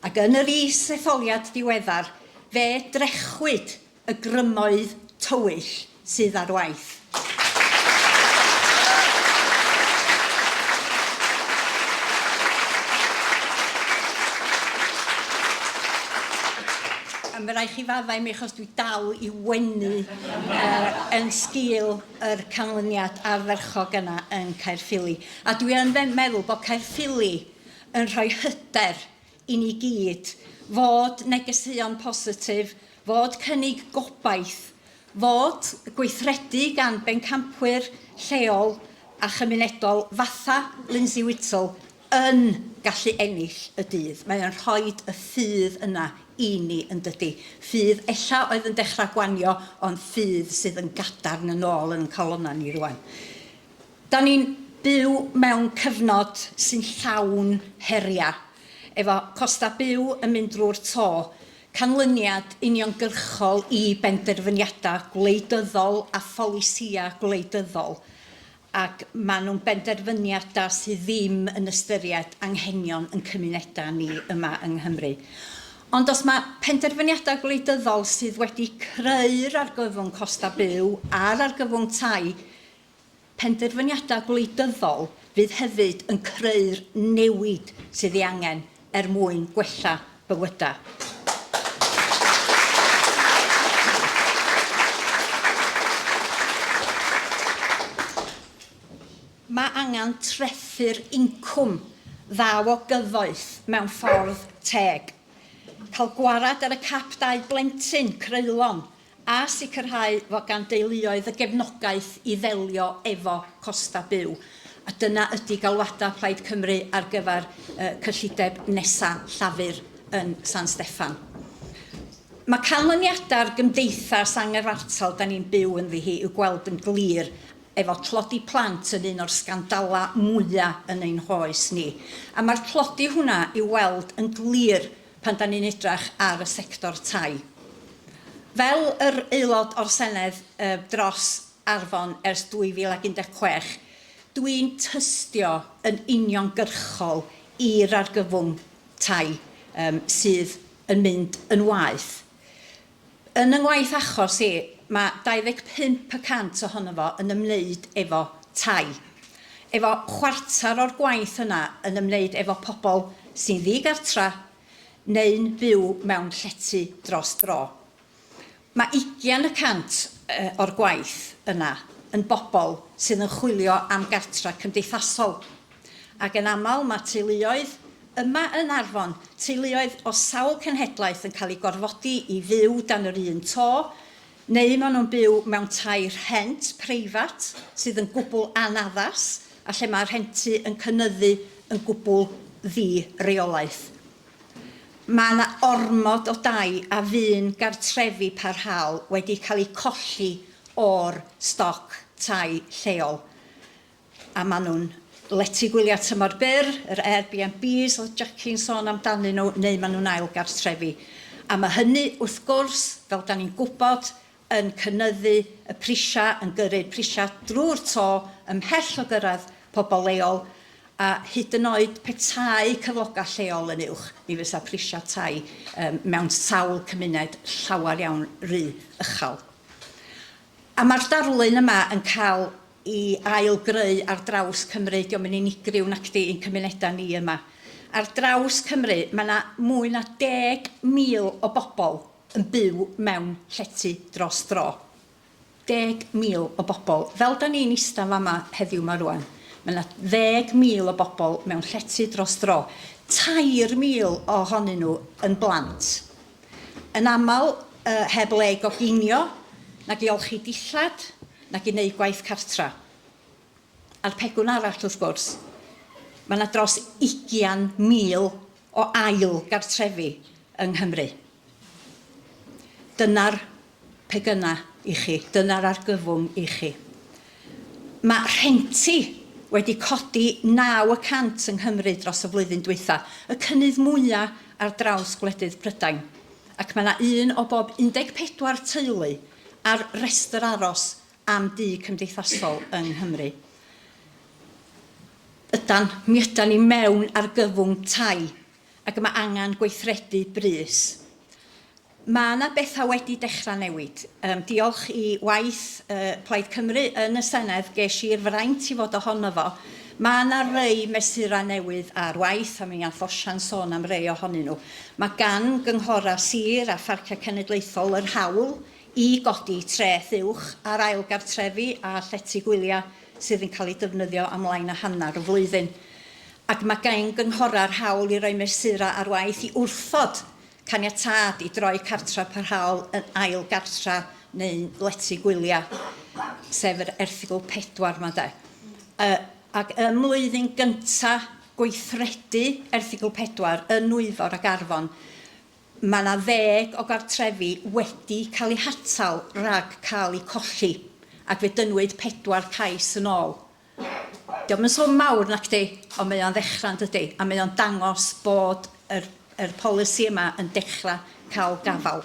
ac yn yr is-etholiad diweddar, fe drechwyd y grymoedd tywyll sydd ar waith. A mae rhaid chi faddau mi achos dwi dal i wenu uh, yn sgil yr canlyniad arferchog yna yn Caerffili. A dwi yn meddwl bod Caerffili yn rhoi hyder i ni gyd, fod negeseuon positif, fod cynnig gobaith, fod gweithredu gan bencampwyr lleol a chymunedol fatha Lindsay Whittle yn gallu ennill y dydd. Mae o'n rhoi y ffydd yna i ni, yn dydy. Ffydd ella oedd yn dechrau gwanio, ond ffydd sydd yn gadarn yn ôl yn ein calonnau ni rwan. Da ni'n byw mewn cyfnod sy'n llawn heriau, efo costau byw yn mynd drwy'r to, canlyniad uniongyrchol i benderfyniadau gwleidyddol a pholisïau gwleidyddol, ac maen nhw'n benderfyniadau sydd ddim yn ystyried anghenion ein cymunedau ni yma yng Nghymru. Ond os mae penderfyniadau gwleidyddol sydd wedi creu'r argyfwng costau byw a'r argyfwng tai, Penderfyniadau gwleidyddol fydd hefyd yn creu'r newid sydd ei angen er mwyn gwella bywydau. Mae angen trethu'r incwm dda o gyfoeth mewn ffordd teg, cael gwared ar y cap dau blentyn creulon a sicrhau fod gan deuluoedd y gefnogaeth i ddelio efo costau byw, a dyna ydi galwadau Plaid Cymru ar gyfer y cyllideb nesa' Llafur yn San Steffan. Mae canlyniadau'r gymdeithas angyfartal 'da ni'n byw ynddi hi i'w gweld yn glir efo tlodi plant yn un o'r sgandalau mwya' yn ein hoes ni, a mae'r tlodi hwnna i'w weld yn glir pan dan ni'n edrach ar y sector tai. Fel yr Aelod o'r Senedd dros Arfon ers 2016, dw i'n tystio yn uniongyrchol i'r argyfwng tai sydd yn mynd yn waeth. Yn y ngwaith achos i, mae 25 y cant ohono fo yn ymwneud efo tai, efo chwarter o'r gwaith yna yn ymwneud efo pobl sy'n ddi-gartra neu'n byw mewn llety dros dro. Mae ugian y cant o'r gwaith yna yn bobl sydd yn chwilio am gartra cymdeithasol. ac yn aml mae teuluoedd, yma yn Arfon, teuluoedd o sawl cenhedlaeth yn cael eu gorfodi i fyw dan yr un to, neu maen nhw'n byw mewn tai rhent preifat sydd yn gwbl anaddas a lle mae rhentu yn cynyddu yn gwbl ddi-reolaeth. Mae yna ormod o dai a fu'n gartrefi parhaol wedi cael eu colli o'r stoc tai lleol. a maen nhw'n letu gwyliau tymor byr, yr Airbnbs oedd Jacki'n sôn amdanyn nhw, neu maen nhw'n ail gartrefi. A mae hynny, wrth gwrs, fel dan ni'n gwybod, yn cynyddu y prisiau, yn gyrru'r prisiau drwy'r to, ymhell o gyrraedd pobl leol, a hyd yn oed petai cyflogau lleol yn uwch, mi fysa prisiau tai mewn sawl cymuned llawer iawn rhy uchel. A mae'r darlun yma yn cael i ail-greu ar draws Cymru, 'di o'm yn unigryw nacdi, i'n cymunedau ni yma. Ar draws Cymru, mae 'na mwy na 10,000 o bobl yn byw mewn llety dros dro. 10,000 o bobl. Fel 'dan ni'n ista'n fama heddiw 'ma rŵan, mae 'na 10,000 o bobl mewn llety dros dro. 3,000 ohonyn nhw yn blant. Yn aml, yy, heb le i goginio, nag i olchi dillad, nag i wneud gwaith cartra. A'r pegwn arall, wrth gwrs, mae yna dros ugian mil o ail gartrefi yng Nghymru. Dyna'r pegynna i chi, dyna'r argyfwng i chi. Mae rhenti wedi codi naw y cant yng Nghymru dros y flwyddyn dwytha, y cynnydd mwya ar draws gwledydd Prydain, ac mae yna un o bob 14 teulu ar restr aros am dŷ cymdeithasol yng Nghymru. Ydan, mi ydan ni mewn argyfwng tai ac mae angen gweithredu brys. Mae yna bethau wedi dechrau newid. Um, diolch i waith uh, Plaid Cymru yn y Senedd, ges i'r fraint i fod ohono fo Mae yna rai mesurau newydd ar waith, a mi all Osian sôn am rai ohonyn nhw. Mae gan gynghorau sir a pharciau cenedlaethol yr hawl i godi treth uwch ar ail gartrefi a llety gwyliau sydd yn cael eu defnyddio am lai na hanner y flwyddyn. Ac mae gan gynghorau'r hawl i roi mesurau ar waith i wrthod caniatâd i droi cartref parhaol yn ail gartre neu'n lety gwyliau, sef yr erthygl 4 yma de. Uh, ac ym mlwyddyn gyntaf gweithredu erthygl 4 yn Nwyfor ac Arfon, mae yna ddeg o gartrefi wedi cael eu hatal rhag cael eu colli, ac fe dynnwyd pedwar cais yn ôl. 'Di o'm yn swm mawr nacdi, ond mae o'n ddechrau yn dydi? A mae o'n dangos bod yr yr polisi yma yn dechrau cael gafael.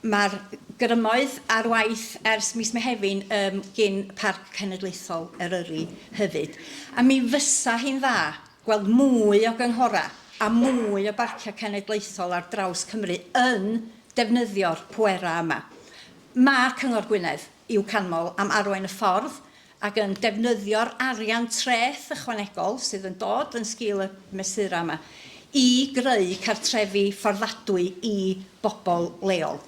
Mae'r grymoedd ar waith ers mis Mehefin um, gin Parc Cenedlaethol Eryri hefyd. A mi fysa hi'n dda gweld mwy o gynghorau a mwy o barciau cenedlaethol ar draws Cymru yn defnyddio'r pwerau yma. Mae Cyngor Gwynedd i'w canmol am arwain y ffordd ac yn defnyddio'r arian treth ychwanegol sydd yn dod yn sgil y mesurau yma i greu cartrefi fforddadwy i bobl leol.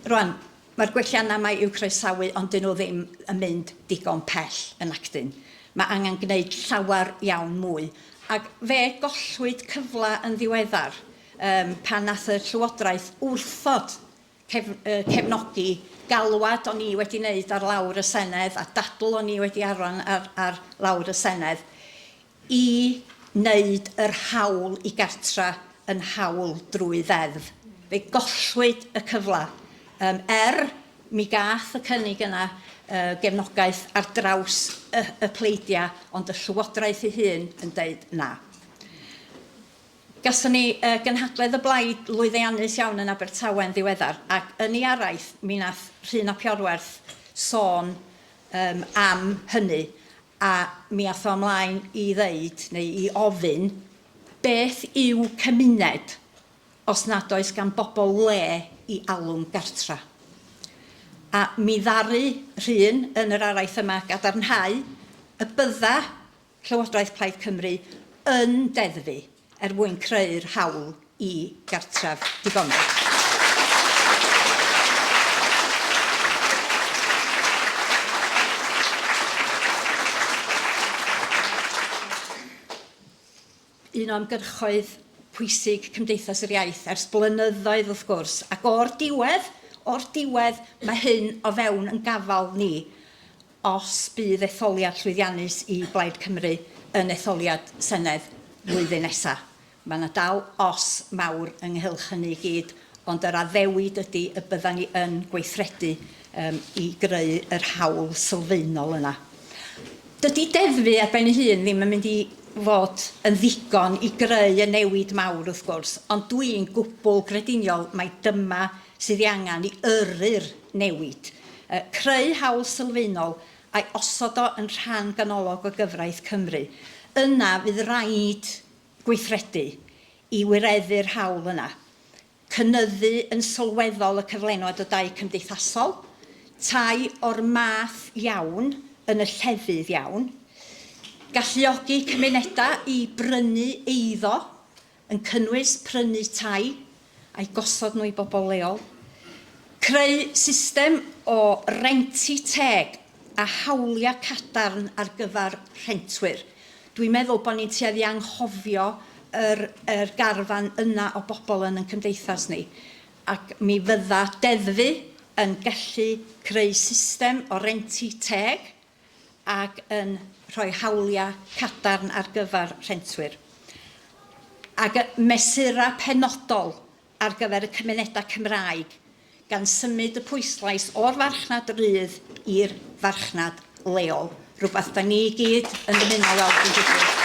Rŵan, mae'r gwelliannau yma i'w croesawu ond 'dyn nhw ddim yn mynd digon pell yn Acton. Mae angen gwneud llawer iawn mwy, ac fe gollwyd cyfle yn ddiweddar pan wnaeth y Llywodraeth wrthod cefnogi galwad o'n i wedi wneud ar lawr y Senedd a dadl o'n i wedi arwain ar, ar lawr y Senedd, i wneud yr hawl i gartra yn hawl drwy ddeddf. Fe gollwyd y cyfle, um, er mi gath y cynnig yna uh, gefnogaeth ar draws y, y pleidiau, ond y Llywodraeth ei hun yn deud na. Gathon ni gynhadledd y blaid lwyddeannus iawn yn Abertawe yn ddiweddar ac yn ei araith mi nath Rhun ap Iorwerth sôn yym am hynny a mi ath o ymlaen i ddeud neu i ofyn beth yw cymuned os nad oes gan bobl le i alw'n gartra a mi ddaru Rhun yn yr araith yma gadarnhau y bydda Llywodraeth Plaid Cymru yn deddfu er mwyn creu'r hawl i gartref digonol. un o ymgyrchoedd pwysig Cymdeithas yr Iaith ers blynyddoedd wrth gwrs, ac o'r diwedd, o'r diwedd, mae hyn o fewn yn gafal ni os bydd etholiad llwyddiannus i Blaid Cymru yn etholiad Senedd flwyddyn nesa'. Mae 'na dal os mawr ynghylch hynny i gyd, ond yr addewid ydi y byddan ni yn gweithredu um, i greu yr hawl sylfaenol yna. Dydy deddfu ar ben ei hun ddim yn mynd i fod yn ddigon i greu y newid mawr wrth gwrs, ond dwi'n gwbl grediniol mai dyma sydd ei angen i yrru'r newid. Uh, creu hawl sylfaenol a'i osod o yn rhan ganolog o gyfraith Cymru. Yna fydd rhaid gweithredu i wireddu'r hawl yna. cynyddu yn sylweddol y cyflenwad o dai cymdeithasol, tai o'r math iawn yn y llefydd iawn, galluogi cymunedau i brynu eiddo, yn cynnwys prynu tai a'i gosod nhw i bobl leol, creu system o renti teg a hawliau cadarn ar gyfer rhentwyr. Dwi'n meddwl bod ni'n tueddu anghofio yr yr garfan yna o bobl yn yn cymdeithas ni, ac mi fydda deddfu yn gallu creu system o renti teg ac yn rhoi hawliau cadarn ar gyfer rhentwyr. Ac y mesurau penodol ar gyfer y cymunedau Cymraeg, gan symud y pwyslais o'r farchnad rydd i'r farchnad leol, rhywbeth da ni i gyd yn dymuno weld yn digwydd.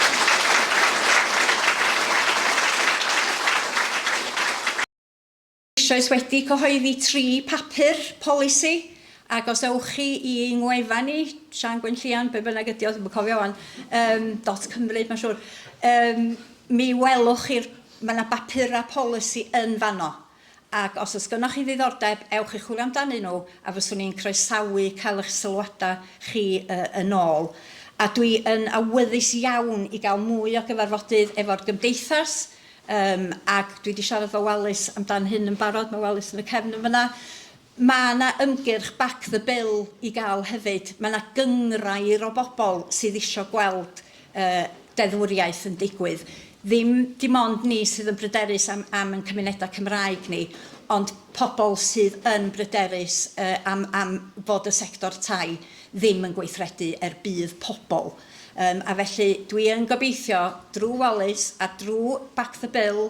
Eisoes wedi cyhoeddi tri papur polisi, ac os ewch chi i ein ngwefan ni, Sian Gwenllian, be bynnag ydi o, ddim yn cofio wan, um, dot Cymru, mae'n siŵr, um, mi welwch chi'r Mae 'na bapurau polisi yn fanno, ac os oes gynnoch chi ddiddordeb, ewch i chwilio amdanyn nhw, a fyswn i'n croesawu cael eich sylwadau chi yn ôl. A dwi yn awyddus iawn i gael mwy o gyfarfodydd efo'r Gymdeithas, ac dwi 'di siarad efo Wallace amdan hyn yn barod, mae Wallace yn y cefn yn fan'na, Mae yna ymgyrch Back the Bill i gael hefyd. Mae yna gynghrair o bobl sydd eisiau gweld y deddfwriaeth yn digwydd. Ddim dim ond ni sydd yn bryderus am am ein cymunedau Cymraeg ni, ond pobl sydd yn bryderus yy am am fod y sector tai ddim yn gweithredu er budd pobl. Yym a felly dwi yn gobeithio drwy Wallace a drwy Back the Bill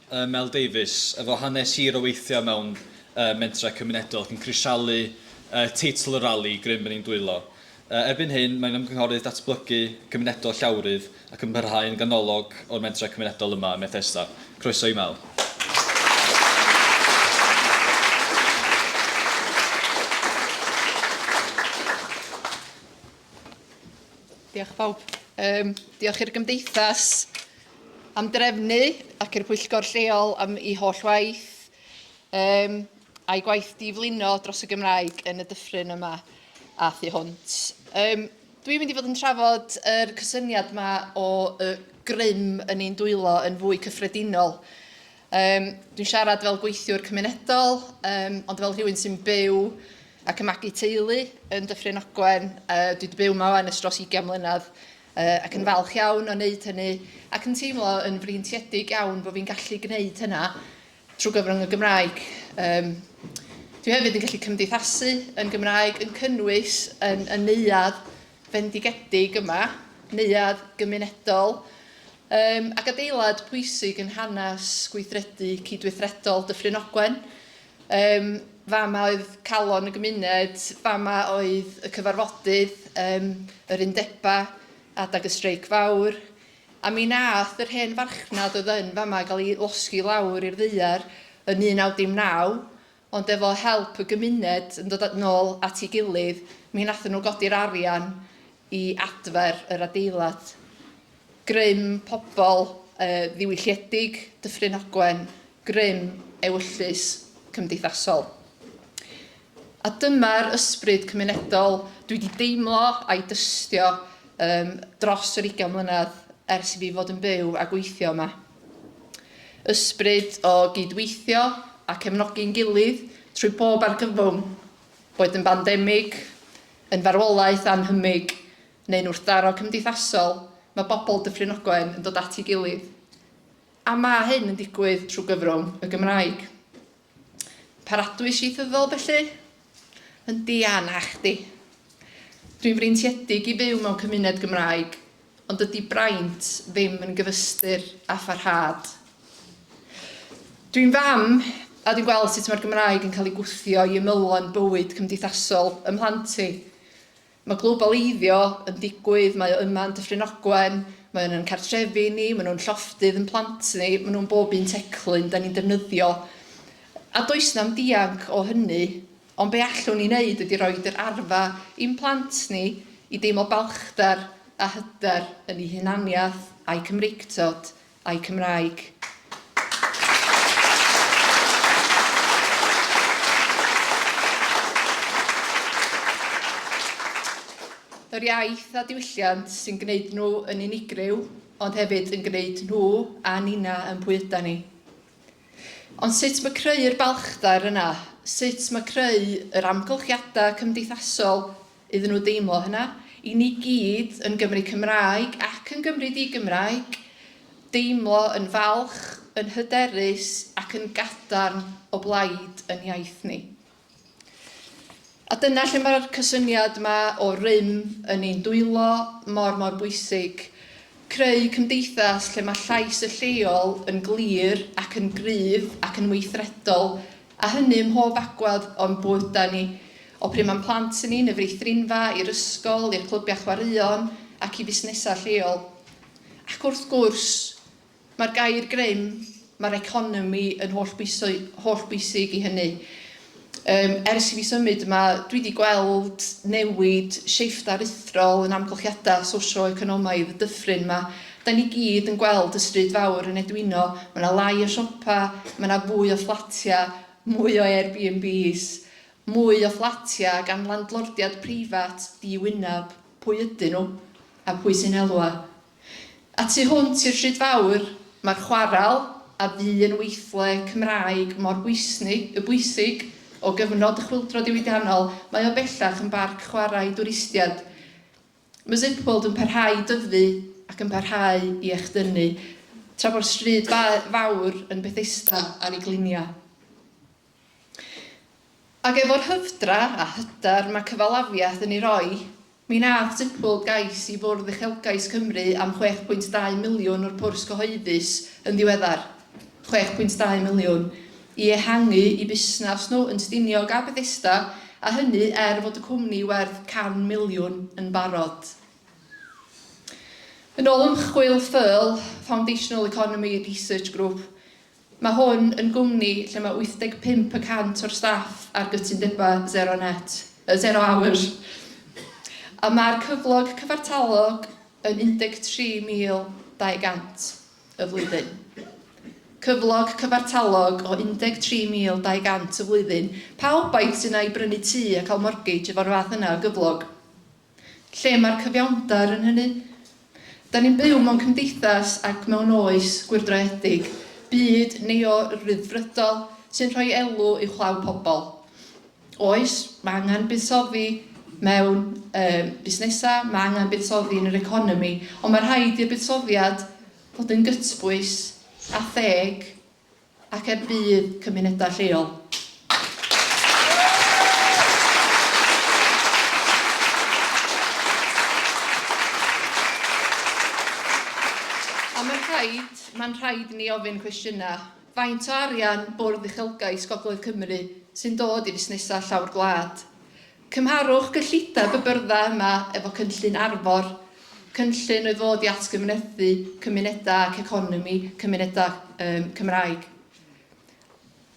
Mel Davies, efo hanes hir o weithio mewn mentrau cymunedol ac yn crisialu teitl y rali grym yn ein dwylo. Erbyn hyn, mae'n Ymgynghorydd Datblygu Cymunedol Llawrydd ac yn parhau yn ganolog o'r mentrau cymunedol yma ym Methesda. Croeso i Mel. Diolch bawb. Um, diolch i'r Gymdeithas am drefnu ac i'r pwyllgor lleol am ei holl waith um, a'i gwaith diflino dros y Gymraeg yn y dyffryn yma a thu hwnt. Um, Dwi'n mynd i fod yn trafod yr er cysyniad yma o y grym yn ein dwylo yn fwy cyffredinol. Yym, dwi'n siarad fel gweithiwr cymunedol, um, ond fel rhywun sy'n byw ac yn magu teulu yn Dyffryn Ogwen, uh, dwi wedi byw yma yn ystros 20 mlynedd, uh, ac yn falch iawn o wneud hynny, ac yn teimlo yn freintiedig iawn bod fi'n gallu gwneud hynna trwy gyfrwng y Gymraeg. Um, dwi hefyd yn gallu cymdeithasu yn Gymraeg, yn cynnwys yn, yn neuad fendigedig yma, neuad gymunedol, Ym ac adeilad pwysig yn hanes gweithredu cydweithredol Dyffryn Ogwen. Ym fama oedd calon y gymuned, fama oedd y cyfarfodydd, ym yr undebau, adag y streic fawr. A mi nath yr hen farchnad oedd yn fama gael ei losgi lawr i'r ddaear yn 1919, ond efo help y gymuned yn dod nôl at ei gilydd, mi wnaethon nhw godi'r arian i adfer yr adeilad. Grym pobl yy ddiwylliedig Dyffryn Ogwen, grym ewyllys cymdeithasol. A dyma'r ysbryd cymunedol dwi wedi deimlo a'i dystio um, dros yr 20 mlynedd ers i fi fod yn byw a gweithio yma. Ysbryd o gyd-weithio a cefnogi'n gilydd trwy bob argyfwng, boed yn bandemig, yn farwolaeth annhymig neu'n wrthdaro cymdeithasol, mae bobl Dyffryn Ogwen yn dod at ei gilydd. A mae hyn yn digwydd trwy gyfrwng y Gymraeg. Paratwys ieithyddol, felly? Yndi, a nachdi. Dwi'n freintiedig i fyw mewn cymuned Gymraeg, ond dydy braint ddim yn gyfystyr â pharhad. Dwi'n fam, a dwi'n gweld sut mae'r Gymraeg yn cael ei gwthio i ymylon bywyd cymdeithasol ym mhlant i. Mae globaleiddio yn digwydd, mae o yma yn Dyffryn Ogwen, mae o'n yn cartrefi ni, maen nhw'n llofftydd yn plant ni, maen nhw'n bob un teclyn dan ni'n defnyddio, a does na'm dianc o hynny, ond be allwn ni wneud ydy rhoid yr arfa i'n plant ni i deimlo balchder a hyder yn eu hunaniaeth, a'u Cymreictod, a'u Cymraeg. Yr iaith a diwylliant sy'n gwneud nhw yn unigryw, ond hefyd yn gwneud nhw a nina yn pwy yda ni. Ond sut mae creu'r balchder yna, sut mae creu yr amgylchiadau cymdeithasol iddyn nhw deimlo hynna. I ni gyd yn Gymry Cymraeg ac yn Gymry di-Gymraeg, deimlo yn falch, yn hyderus ac yn gadarn o blaid yn iaith ni. A dyna lle mae'r cysyniad yma o rym yn ein dwylo mor mor bwysig. Creu cymdeithas lle mae llais y lleol yn glir ac yn gryf ac yn weithredol A hynny ym mhob agwedd o'n bywydau ni, o pryd mae'n plant i ni, yn y feithrinfa, i'r ysgol, i'r clybiau chwaraeon ac i fusnesau lleol. Ac wrth gwrs, mae'r gair grym, mae'r economi yn hollbwysig i hynny. Yym, ers i fi symud yma, dwi wedi gweld newid, shift aruthrol yn amgylchiadau socio-economaidd y dyffryn yma, Da ni gyd yn gweld y stryd fawr yn edwino, ma na lai o siopa, ma na fwy o fflatia, mwy o Airbnbs, mwy o fflatia gan landlordiad preifat di-wyneb, pwy ydyn nhw? A pwy sy'n elwa? A tu hwnt i'r stryd fawr, ma'r chwaral, a fu yn weithle Cymraeg mor bwysni, y bwysig, o gyfnod y chwyldro diwydiannol, mae o bellach yn barc chwarae dwristied. Mae Zipworld yn parhau i dyfu ac yn parhau i echdynnu, tra bo'r stryd fawr yn Bethesda ar ei gliniau. Ac efo'r hyfdra, a hyder, mae cyfalafiaeth yn ei roi, mi nath Zipworld gais i Fwrdd Uchelgais Cymru am 6.2 miliwn o'r pwrs cyhoeddus yn ddiweddar. chwech pwynt dau miliwn, i ehangu i busnas nhw yn Stiniog a Bethesda, a hynny er fod y cwmni werth can miliwn yn barod. Yn ôl ymchwil ffyrl Foundational Economy Research Group, mae hwn yn gwmni lle mae 85 y cant o'r staff ar gytundebau zero net, uh, zero hours, a mae'r cyflog cyfartalog yn 13,200. y flwyddyn. Cyflog cyfartalog o 13,200 y flwyddyn, pawb aidd sydd yna i brynu tŷ a cael mortgage efo'r fath yna o gyflog. Lle mae'r cyfiawnder yn hynny? Da ni'n byw mewn cymdeithas ac mewn oes gwyrdroedig, byd neo-ryddfrydol sy'n rhoi elw uwchlaw pobl. Oes, mae angen buddsoddi mewn um, busnesau, mae angen buddsoddi yn yr economi, ond mae rhaid i'r buddsoddiad fod yn gytbwys a theg ac er budd cymunedau lleol. Mae'n rhaid, mae'n rhaid ni ofyn cwestiynau Faint o arian Bwrdd Uchelgais Gogledd Cymru sy'n dod i fusnesau llawr gwlad? Cymharwch gyllideb y byrddau yma efo cynllun Arfor, cynllun oedd fod i atgyfnerthu cymunedau ac economi cymunedau um, Cymraeg.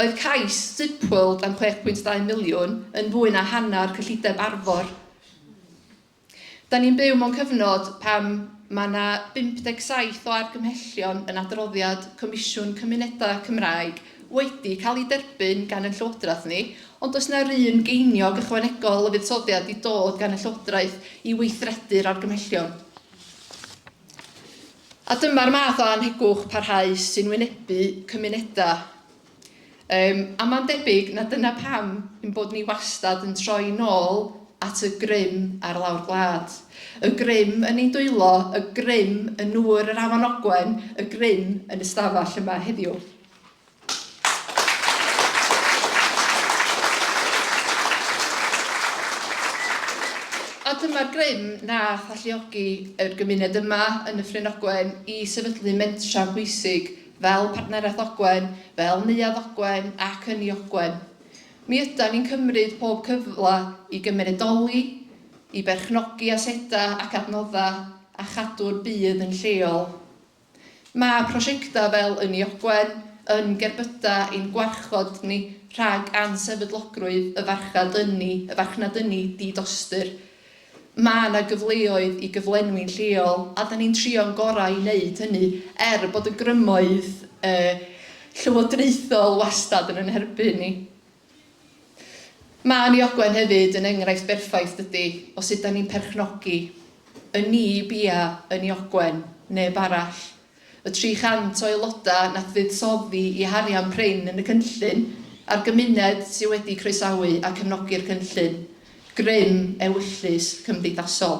Oedd cais Zipworld am 6.2 miliwn yn fwy na hanner cyllideb Arfor. Da ni'n byw mewn cyfnod pan mae 'na 57 o argymhellion yn adroddiad Comisiwn Cymunedau Cymraeg wedi cael eu derbyn gan ein Llywodraeth ni, ond does 'na'r un geiniog ychwanegol o fuddsoddiad wedi dod gan y Llywodraeth i weithredu'r argymhellion. A dyma'r math o annhegwch parhaus sy'n wynebu cymunedau. Yym, a mae'n debyg na dyna pam ein bod ni wastad yn troi nôl at y grym ar lawr gwlad. Y grym yn ein dwylo, y grym yn nŵr yr Afon Ogwen, y grym yn y stafell yma heddiw. A dyma'r grym nath alluogi yr gymuned yma yn Nyffryn Ogwen i sefydlu mentra pwysig fel Partneriaeth Ogwen, fel Neuadd Ogwen ac Ynni Ogwen. Mi ydan ni'n cymryd pob cyfle i gymunedoli, i berchnogi asedau ac adnoddau a chadw'r byd yn lleol. Mae prosiectau fel Ynni Ogwen yn gerbydau i'n gwarchod ni rhag ansefydlogrwydd y farchnad ynni, y farchnad ynni di-dostyr. Mae 'na gyfleoedd i gyflenwi'n lleol a 'dan ni'n trio'n gorau i wneud hynny, er bod y grymoedd llywodraethol wastad yn yn herbyn ni. Mae Niogwen hefyd yn enghraifft berffaith, dydi, o sut 'dan ni'n perchnogi, yn ni, bia, yn Niogwen, neb arall. Y 300 o aelodau nath fuddsoddi i harian prin yn y cynllun, a'r gymuned sydd wedi croesawu a cefnogi'r cynllun, grym ewyllys cymdeithasol.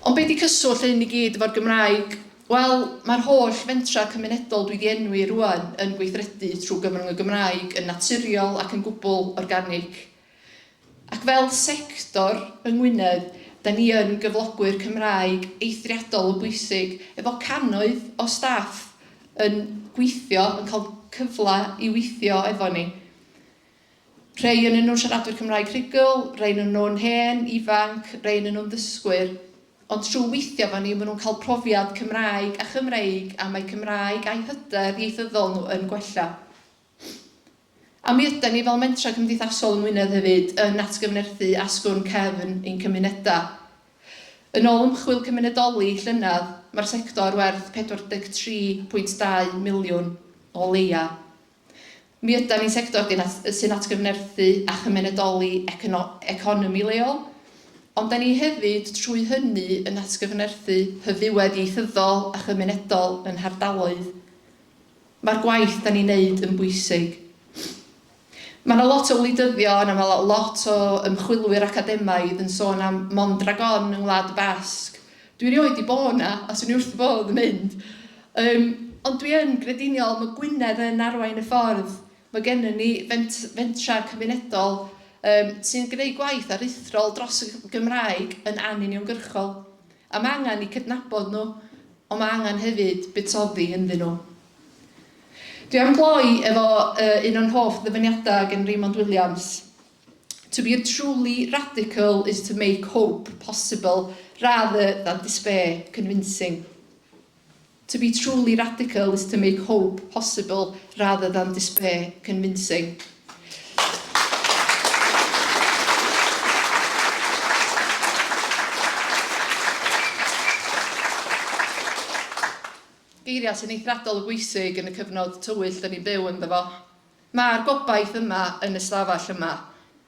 Ond be di cyswllt hyn i gyd efo'r Gymraeg? Wel, mae'r holl fentrau cymunedol dwi di enwi rŵan yn gweithredu trwy gyfrwng y Gymraeg yn naturiol ac yn gwbl organig. Ac fel sector yng Ngwynedd, da ni yn gyflogwyr Cymraeg eithriadol o bwysig, efo cannoedd o staff yn gweithio, yn cael cyfle i weithio efo ni. Rhei yn nhw'n siaradwyr Cymraeg rhugl, rhei yn nhw'n hen, ifanc, rhei yn nhw'n ddysgwyr. Ond trwy weithio efo ni, maen nhw'n cael profiad Cymraeg a Chymreig a mae Cymraeg a'u hyder ieithyddol nhw yn gwella. A mi ydan ni fel mentrau cymdeithasol yng Ngwynedd hefyd yn atgyfnerthu asgwrn cefn ein cymunedau. Yn ôl ymchwil cymunedoli llynedd, mae'r sector werth 43.2 miliwn o leia. Mi ydan ni'n sector sy'n atgyfnerthu a chymunedoli economi leol, ond da ni hefyd trwy hynny yn atgyfnerthu hyfywedd ieithyddol a chymunedol yn hardaloedd. Mae'r gwaith da ni'n neud yn bwysig. Mae 'na lot o wleidyddion a mae lot o ymchwilwyr academaidd yn sôn am Mondragon yng Ngwlad y Basg. Dwi erioed 'di bod 'na a 'swn i wrth fy fodd yn mynd. Yym, ond dwi yn grediniol, mae Gwynedd yn arwain y ffordd. Mae gennym ni fent- fentrau cymunedol yym sy'n gwneud gwaith aruthrol dros y Gymraeg yn anuniongyrchol. A mae angen eu cydnabod nhw, ond mae angen hefyd buddsoddi ynddyn nhw. Dwi am gloi efo uh, un o'n hoff ddyfyniadau gen Raymond Williams. To be a truly radical is to make hope possible rather than despair convincing. To be truly radical is to make hope possible rather than despair convincing. Geiriau sy'n eithriadol o bwysig yn y cyfnod tywyll dyn ni'n byw ynddo fo. Mae'r gobaith yma yn y stafell yma.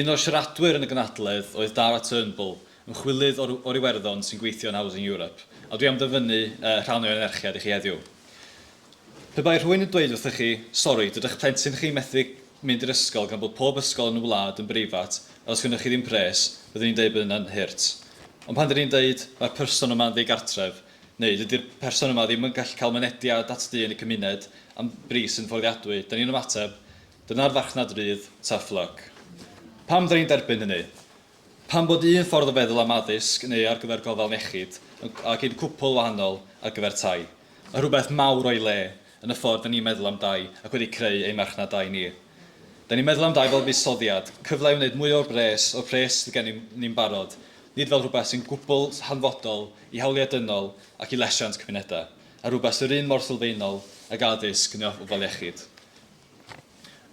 Un o'r siaradwyr yn y gynhadledd oedd Dara Turnbull, ymchwilydd o'r Iwerddon sy'n gweithio yn Housing Europe, a dwi am ddyfynnu rhan o'i anerchiad i chi heddiw. Pe bai rhywun yn dweud wrthych chi, 'Sori, dydych plentyn chi methu mynd i'r ysgol gan bod pob ysgol yn y wlad yn breifat a does gynnoch chi ddim pres, byddwn i'n dweud bod hynna'n hurt. Ond pan dŷn ni'n dweud, 'Mae'r person yma'n ddigartref', neu 'Dydy'r person yma ddim yn gallu cael mynediad at dŷ yn y cymuned am bris sy'n fforddiadwy', dŷn ni'n ymateb, Dyna'r farchnad rydd, tough luck. Pam fydden ni'n derbyn hynny? Pam bod un ffordd o feddwl am addysg neu ar gyfer gofal iechyd yn ac un cwpwl wahanol ar gyfer tai? Mae rhywbeth mawr o'i le yn y ffordd dan ni'n meddwl am dai ac wedi creu ein marchnad dai ni. Dan ni'n meddwl am dai fel fuddsoddiad, cyfle i wneud mwy o'r bres o'r pres sydd gennym ni'n barod, nid fel rhywbeth sy'n gwbl hanfodol i hawliau dynol ac i lesiant cymunedau, a rhywbeth sy'r un mor sylfaenol ag addysg neu ofal iechyd.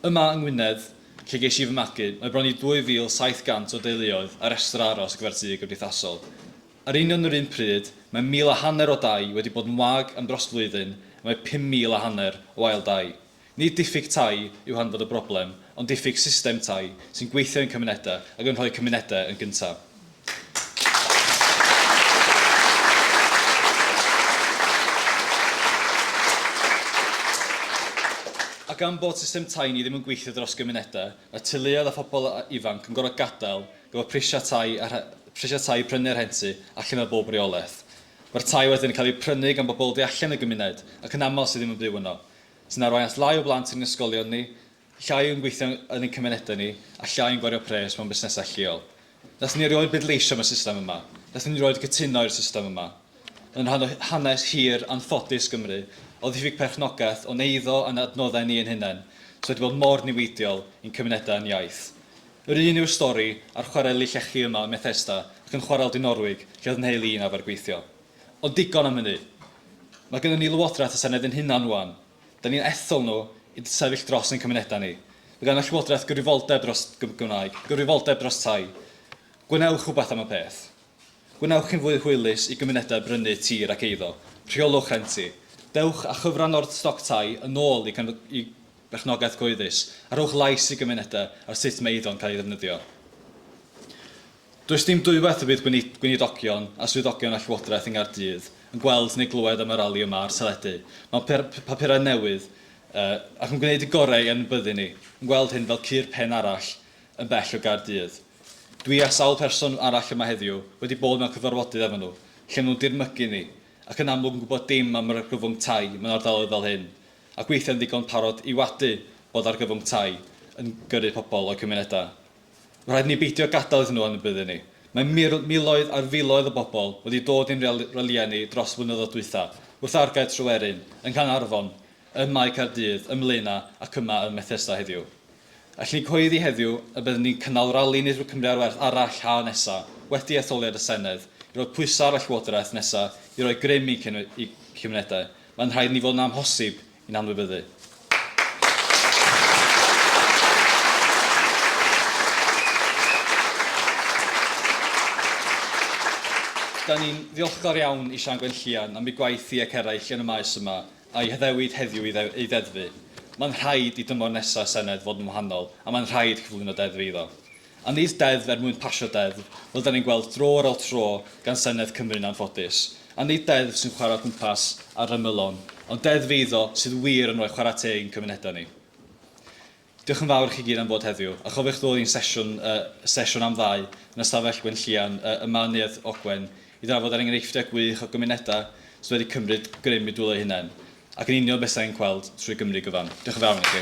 Yma yng Ngwynedd, lle ges i fy magu, mae bron i 2,700 o deuluoedd ar restr aros ar gyfer tŷ gymdeithasol. Ar union yr un pryd, mae mil a hanner o dai wedi bod yn wag am dros flwyddyn a mae 5,000 a hanner o ail dai. Nid diffyg tai yw hanfod y broblem, ond diffyg system tai sy'n gweithio i'n cymunedau ac yn rhoi cymunedau yn gyntaf. A gan bod system tai ni ddim yn gweithio dros gymunedau, mae teuluoedd a phobl ifanc yn gorfod gadael efo prisiau tai a prisiau tai i prynu a rhentu allan o bob reolaeth. Mae'r tai wedyn yn cael eu prynu gan bobl o du allan y gymuned, ac yn aml sydd ddim yn byw yno, sy'n arwain at lai o blant yn ein ysgolion ni, Llai yn gweithio yn ein cymunedau ni a llai yn gwario pres mewn busnesau lleol. Wnaethon ni erioed bleidleisio am y system yma, wnaethon ni erioed gytuno i'r system yma. Yn rhan o hanes hir anffodus Gymru, o ddiffyg perchnogaeth o'n eiddo a'n adnoddau ni ein hunain, sydd wedi bod mor niweidiol i'n cymunedau a'n iaith. Yr un yw'r stori a'r chwareli llechi yma ym Methesda ac yn Chwarel Dinorwig lle oedd 'nheulu i'n arfer gweithio. Ond digon am hynny. Mae gynnon ni Lywodraeth a Senedd ein hunain rŵan. Da ni'n ethol nhw i sefyll dros ein cymunedau ni. Mae gan y Llywodraeth gyfrifoldeb dros Gymraeg, gyfrifoldeb dros tai. Gwnewch rhywbeth am y peth. Gwnewch yn fwy hwylus i gymunedau brynu tir ac eiddo. Rheolwch rhenti. Dewch â chyfran o'r stoc tai yn ôl i berchnogaeth gyhoeddus a rhowch lais i gymunedau ar sut mae eiddo'n cael ei ddefnyddio. Does dim dwywaith y bydd gweinidogion a swyddogion y Llywodraeth yng Nghaerdydd yn gweld neu glywed am y rali yma ar teledu, mewn papurau newydd, ac yn gwneud y gorau yn y byddin ni yn gweld hyn fel cur pen arall yn bell o Gaerdydd. Dwi a sawl person arall yma heddiw wedi bod mewn cyfarfodydd efo nhw, lle maen nhw'n dirmygu ni, ac yn amlwg yn gwybod dim am yr argyfwng tai mewn ardaloedd fel hyn, ac weithiau'n ddigon parod i wadu bod argyfwng tai yn gyrru pobl o'u cymunedau. Rhaid ni beidio gadael iddyn nhw anwybyddu ni. Mae mil, miloedd ar filoedd o bobl wedi dod i'n rel, ralïau ni dros y blynyddoedd dwytha, wrth argae Tryweryn, yng Nghanarfon, ym Mae Caerdydd, ym Mlaenau ac yma ym Methesda heddiw. Allwn ni gyhoeddi heddiw y byddwn ni'n cynnal rali Nid Cymru ar Werth arall haf nesa, wedi etholiad y Senedd, i roi pwysau ar y Llywodraeth nesa i roi grym i'n cymunedau. Mae'n rhaid i ni fod yn amhosib Yn anwybyddu. Da ni'n ddiolchgar iawn i Siân Gwenllian am ei gwaith hi ac eraill yn y maes yma, a'i haddewid heddiw i ei ddeddfu. Mae'n rhaid i dymor nesaf Senedd fod yn wahanol, a mae'n rhaid cyflwyno deddfu iddo. A nid deddf er mwyn pasio deddf, fel 'da ni'n gweld dro ar ol tro gan Senedd Cymru'n anffodus. A nid deddf sy'n chwarae o gwmpas ar ymylon, ond deddf eiddo sydd wir yn rhoi chwarae teg i'n cymunedau ni. Diolch yn fawr i chi gyd am fod heddiw, a chofiwch ddod i'n sesiwn, y sesiwn am ddau, yn Ystafell Gwenllian, y yma yn Neuadd Ogwen, i ddrafod yr enghreifftiau gwych o gymunedau sydd wedi cymryd grym i dwylo eu hunain. Ac yn union beth sy'n ein gweld trwy Gymru gyfan. Diolch yn fawr i chi.